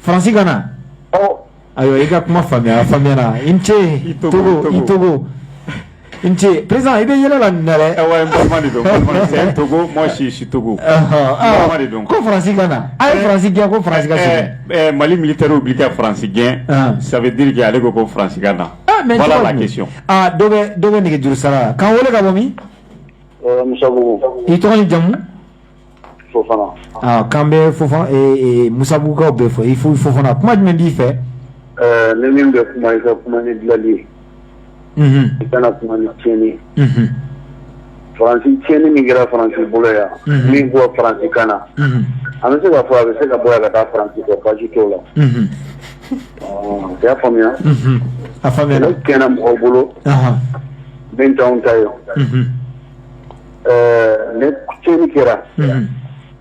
Faransi ka na ayiwa i ka kuma faamuya faamuya i ni ce i to i to ni ce président i bɛ yɛlɛ la na tosi si si to ko faransi ka na a ye faransi gɛn ko faransi sɛgɛn mali militɛriw bɛ ka faransi gɛn sabubirike ale ko ko faransi ka na mɔgɔ dɔ bɛ nɛgɛjuru sira la k'an wele ka bɔ min i tɔgɔ i jamu k'an bɛ musabugukaw bɛɛ fo i fo fofana kuma jumɛn b'i fɛ ne min bɛ kuma i ka kuma ni dalili ye i kana kuma ni tiɲɛni faransi tiɲɛni min kɛra faransi bolo yan min b'a fɔ faransi ka na an bɛ se ka fɔ a bɛ se ka bɔ ka taa faransi kɔ baasi t'a la y'a faamuya a fa kɛnɛ mɔgɔw bolo bɛn ta ye Mais ni tiɲɛni kɛra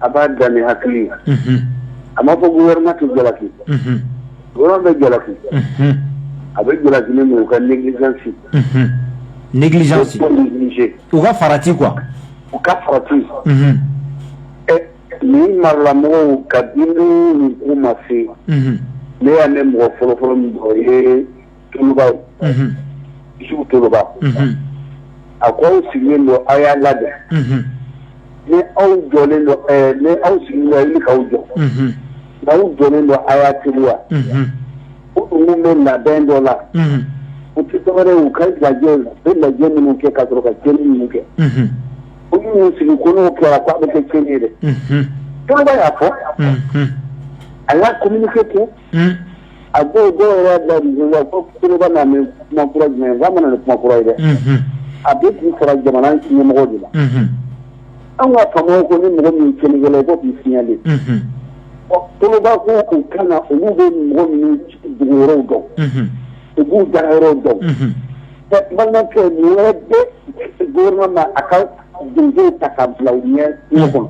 a b'a dan ni hakili ye a ma fɔ gouvernement tɛ jalaki gouvernement bɛ jalaki a bɛ jalaki min u ka négligence négligence u ka farati k'u ka farati ɛ nin marala mɔgɔ ka den u ma se ne y'a ne mɔgɔ fɔlɔfɔlɔ mɔgɔ ye Toloba monsieur Toloba a ko aw sigilen don aw y'a lajɛ ni aw jɔlen ni aw sigilen i k'aw jɔ nka aw jɔlen don aw y'a teri wa minnu bɛ labɛn dɔ la u tɛ tɔgɔ u ka lajɛ u bɛ lajɛ minnu kɛ ka sɔrɔ ka jɔn minnu kɛ u minnu sigi ko n'o kɛra k' bɛ kɛ cɛn ye dɛ tɔgɔ y'a fɔ a y'a ko kɛ ten a ko jumɛn kumakura ye dɛ a bɛ k'u fara jamana ɲɛmɔgɔ de ma an ka faamaw ko ni mɔgɔ min kelen kelen i ko Toloba ko u ka na olu bɛ mɔgɔ min dugu yɔrɔw dɔn u b'u da yɔrɔw dɔn balimakɛ gouvernement ma a ka den ta ka bila u ɲɛ kɔnɔ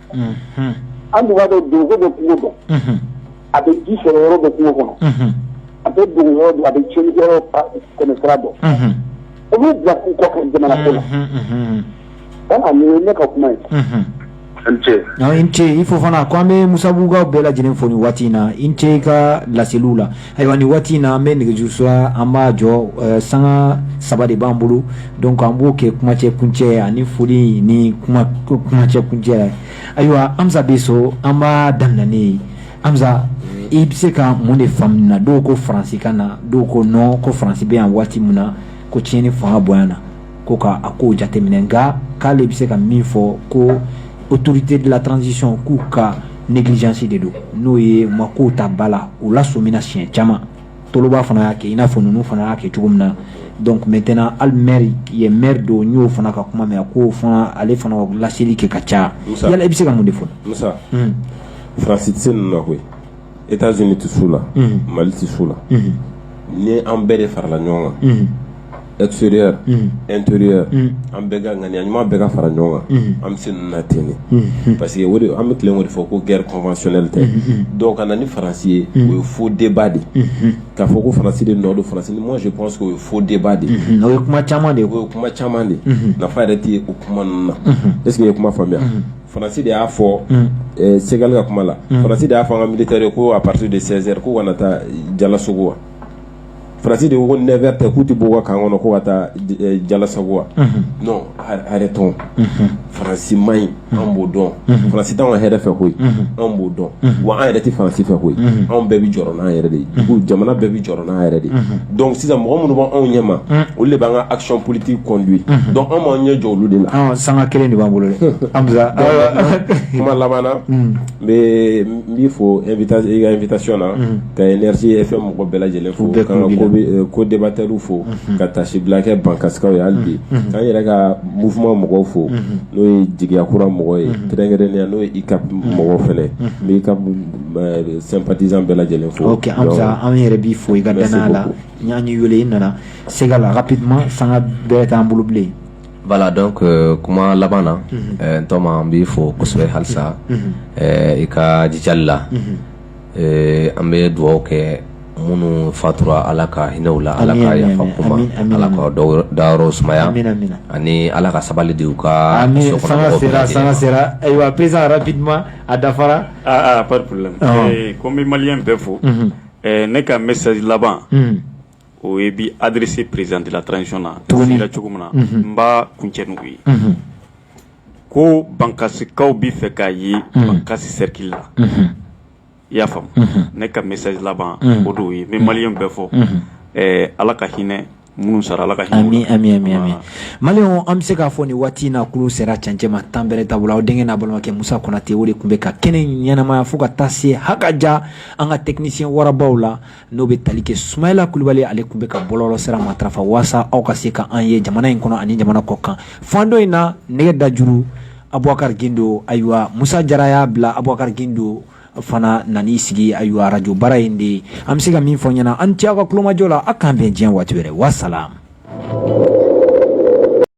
an dugwa bɛ don bɛ kungo dɔn a bɛ ji sɔrɔ yɔrɔ bɛ kungo kɔnɔ a bɛ dugu a bɛ cɛ kɛmɛsira bɔ u bɛ bila k'u kɔ ka jamana ko la ka ne ka kuma ye i ni ce i fo fana k' an bɛ Musabugu bɛɛ lajɛlen fo nin waati in na i ni ce i ka laseliw la ayiwa ni waati in na an bɛ nɛgɛjurusira an b'a jɔ eh, sanga saba de b'an bolo donc an b'o kɛ kumacɛ kuncɛ ani foli ni kuma kumacɛ kuncɛ ayiwa Hamza bɛ so an b'a daminɛ n'e ye Hamza i bɛ se ka mun de faamuna dɔw ko faransi ka na dɔw ko nɔn ko faransi bɛ yan waati min na ko tiɲɛni fanga bonyana ko ka a ko jateminɛ nka k'ale bɛ se ka min fɔ ko autorité de la transition k'u ka négligence de don n'o ye u ma ko ta ba la u lasɔmina siɲɛ caman Toloba fana y'a kɛ i n'a fɔ ninnu fana y'a kɛ cogo min na donc maintenant hali maire ye maire don n y'o fana ka kuma mɛn k'o fana ale fana laseli kɛ ka caya yala i bɛ se ka mun de fɔ Musa hmm. France tɛ se ninnu na koyi États-Unis tɛ s'u la hmm. Mali tɛ s'u la hmm. ni an bɛɛ de farala ɲɔgɔn kan extérieur an bɛ ka ŋaniya ɲuman bɛ ka fara ɲɔgɔn kan an bɛ se na ten parce que an bɛ tilen de fɔ ko guerre conventionnelle tɛ dɔw ka na ni faransi ye o ye fo denba de ye ka fɔ ko faransi de nɔ don faransi mɔsi panse o ye fo denba de ye kuma caman de ye kuma caman de nafa yɛrɛ tɛ o kuma ninnu na e sigi ye kuma faamuya faransi de y'a fɔ sɛgɛka kuma la faransi de y'a fɔ an ka militari ko à partir de Sévaré ko kana taa Jalasagu wa faransi de ko ne tɛ ku tɛ bɔ kan kɔnɔ ko ka taa jalasagu wa non arrêtons faransi man ɲi an b'o dɔn faransi t'anw ka hɛrɛ fɛ koyi anw b'o dɔn wa an yɛrɛ tɛ faransi fɛ koyi anw bɛɛ bɛ jɔrɔ an yɛrɛ de ye jamana bɛɛ bɛ jɔrɔ a yɛrɛ de donc sisan mɔgɔ minnu b'anw ɲɛma olu de b'an ka action politique conduit donc an b'an ɲɛ jɔ olu de la sanga kelen de b'an bolo kuma laban na n bɛ n b'i fo i ka invitation na ka Énergie FM mɔgɔ bɛɛ lajɛlen fo ka co-débatteur fo ka taasibila kɛ bankasikaw ye hali bi k'an yɛrɛ ka mouvement mɔgɔw fo n'o ye jigiya kura mɔgɔw ye kɛrɛnkɛrɛnnenya n'o ye ICAP mɔgɔw fana ye n bɛ ICAP sympathisant bɛɛ lajɛlen fo ok Amsa an yɛrɛ b'i fo i ka dannaya la an y'i wele i nana sɛgɛ la rapidement sanga bɛrɛ t'an bolo bilen voilà donc kuma laban na n tɔma an b'i fo kosɛbɛ hali sa i ka jijali la an bɛ dugawu kɛ minnu fatura ala ka hinɛ u la ala ka yafa u ma ala k'u dayɔrɔ sumaya ani ala ka sabali di u ka san sera ayiwa président rapidement a dafara pas de problème n bɛ malien bɛɛ fo ne ka message laban o ye bi adressé président de la transition na cogoya cogo min na n b'a kun cɛ nugu ye ko bankasikaw b'a fɛ k'a ye bankasi sɛriki la i y'a faamu ne ka message laban o don ye min malien bɛɛ fo ala ka hinɛ minnu sara ala ka mali an bɛ se k'a fɔ nin waati in na kulun sera cɛncɛn ma tan bɛɛ da bolo aw denkɛ n'aw balimakɛ musa konate o de tun bɛ ka kɛnɛ ɲɛnamaya fo ka taa se hakɛ ja an ka technicien warabaw la n'o bɛ tali kɛ sumayila kulubali ale tun bɛ ka bɔlɔlɔsira matarafa walasa aw ka se k'an ye jamana in kɔnɔ ani jamana kɔkan fan dɔ in na nɛgɛ da juru abubakari gindo ayiwa musa jara y'a bila abubakari gindo fana nana sigi ayiwa arajo baara de ye an bɛ se ka min fɔ ɲɛna aw ni ce aw ka tulomajɔ la aw k'an bɛn diɲɛ waati wɛrɛ wasalamu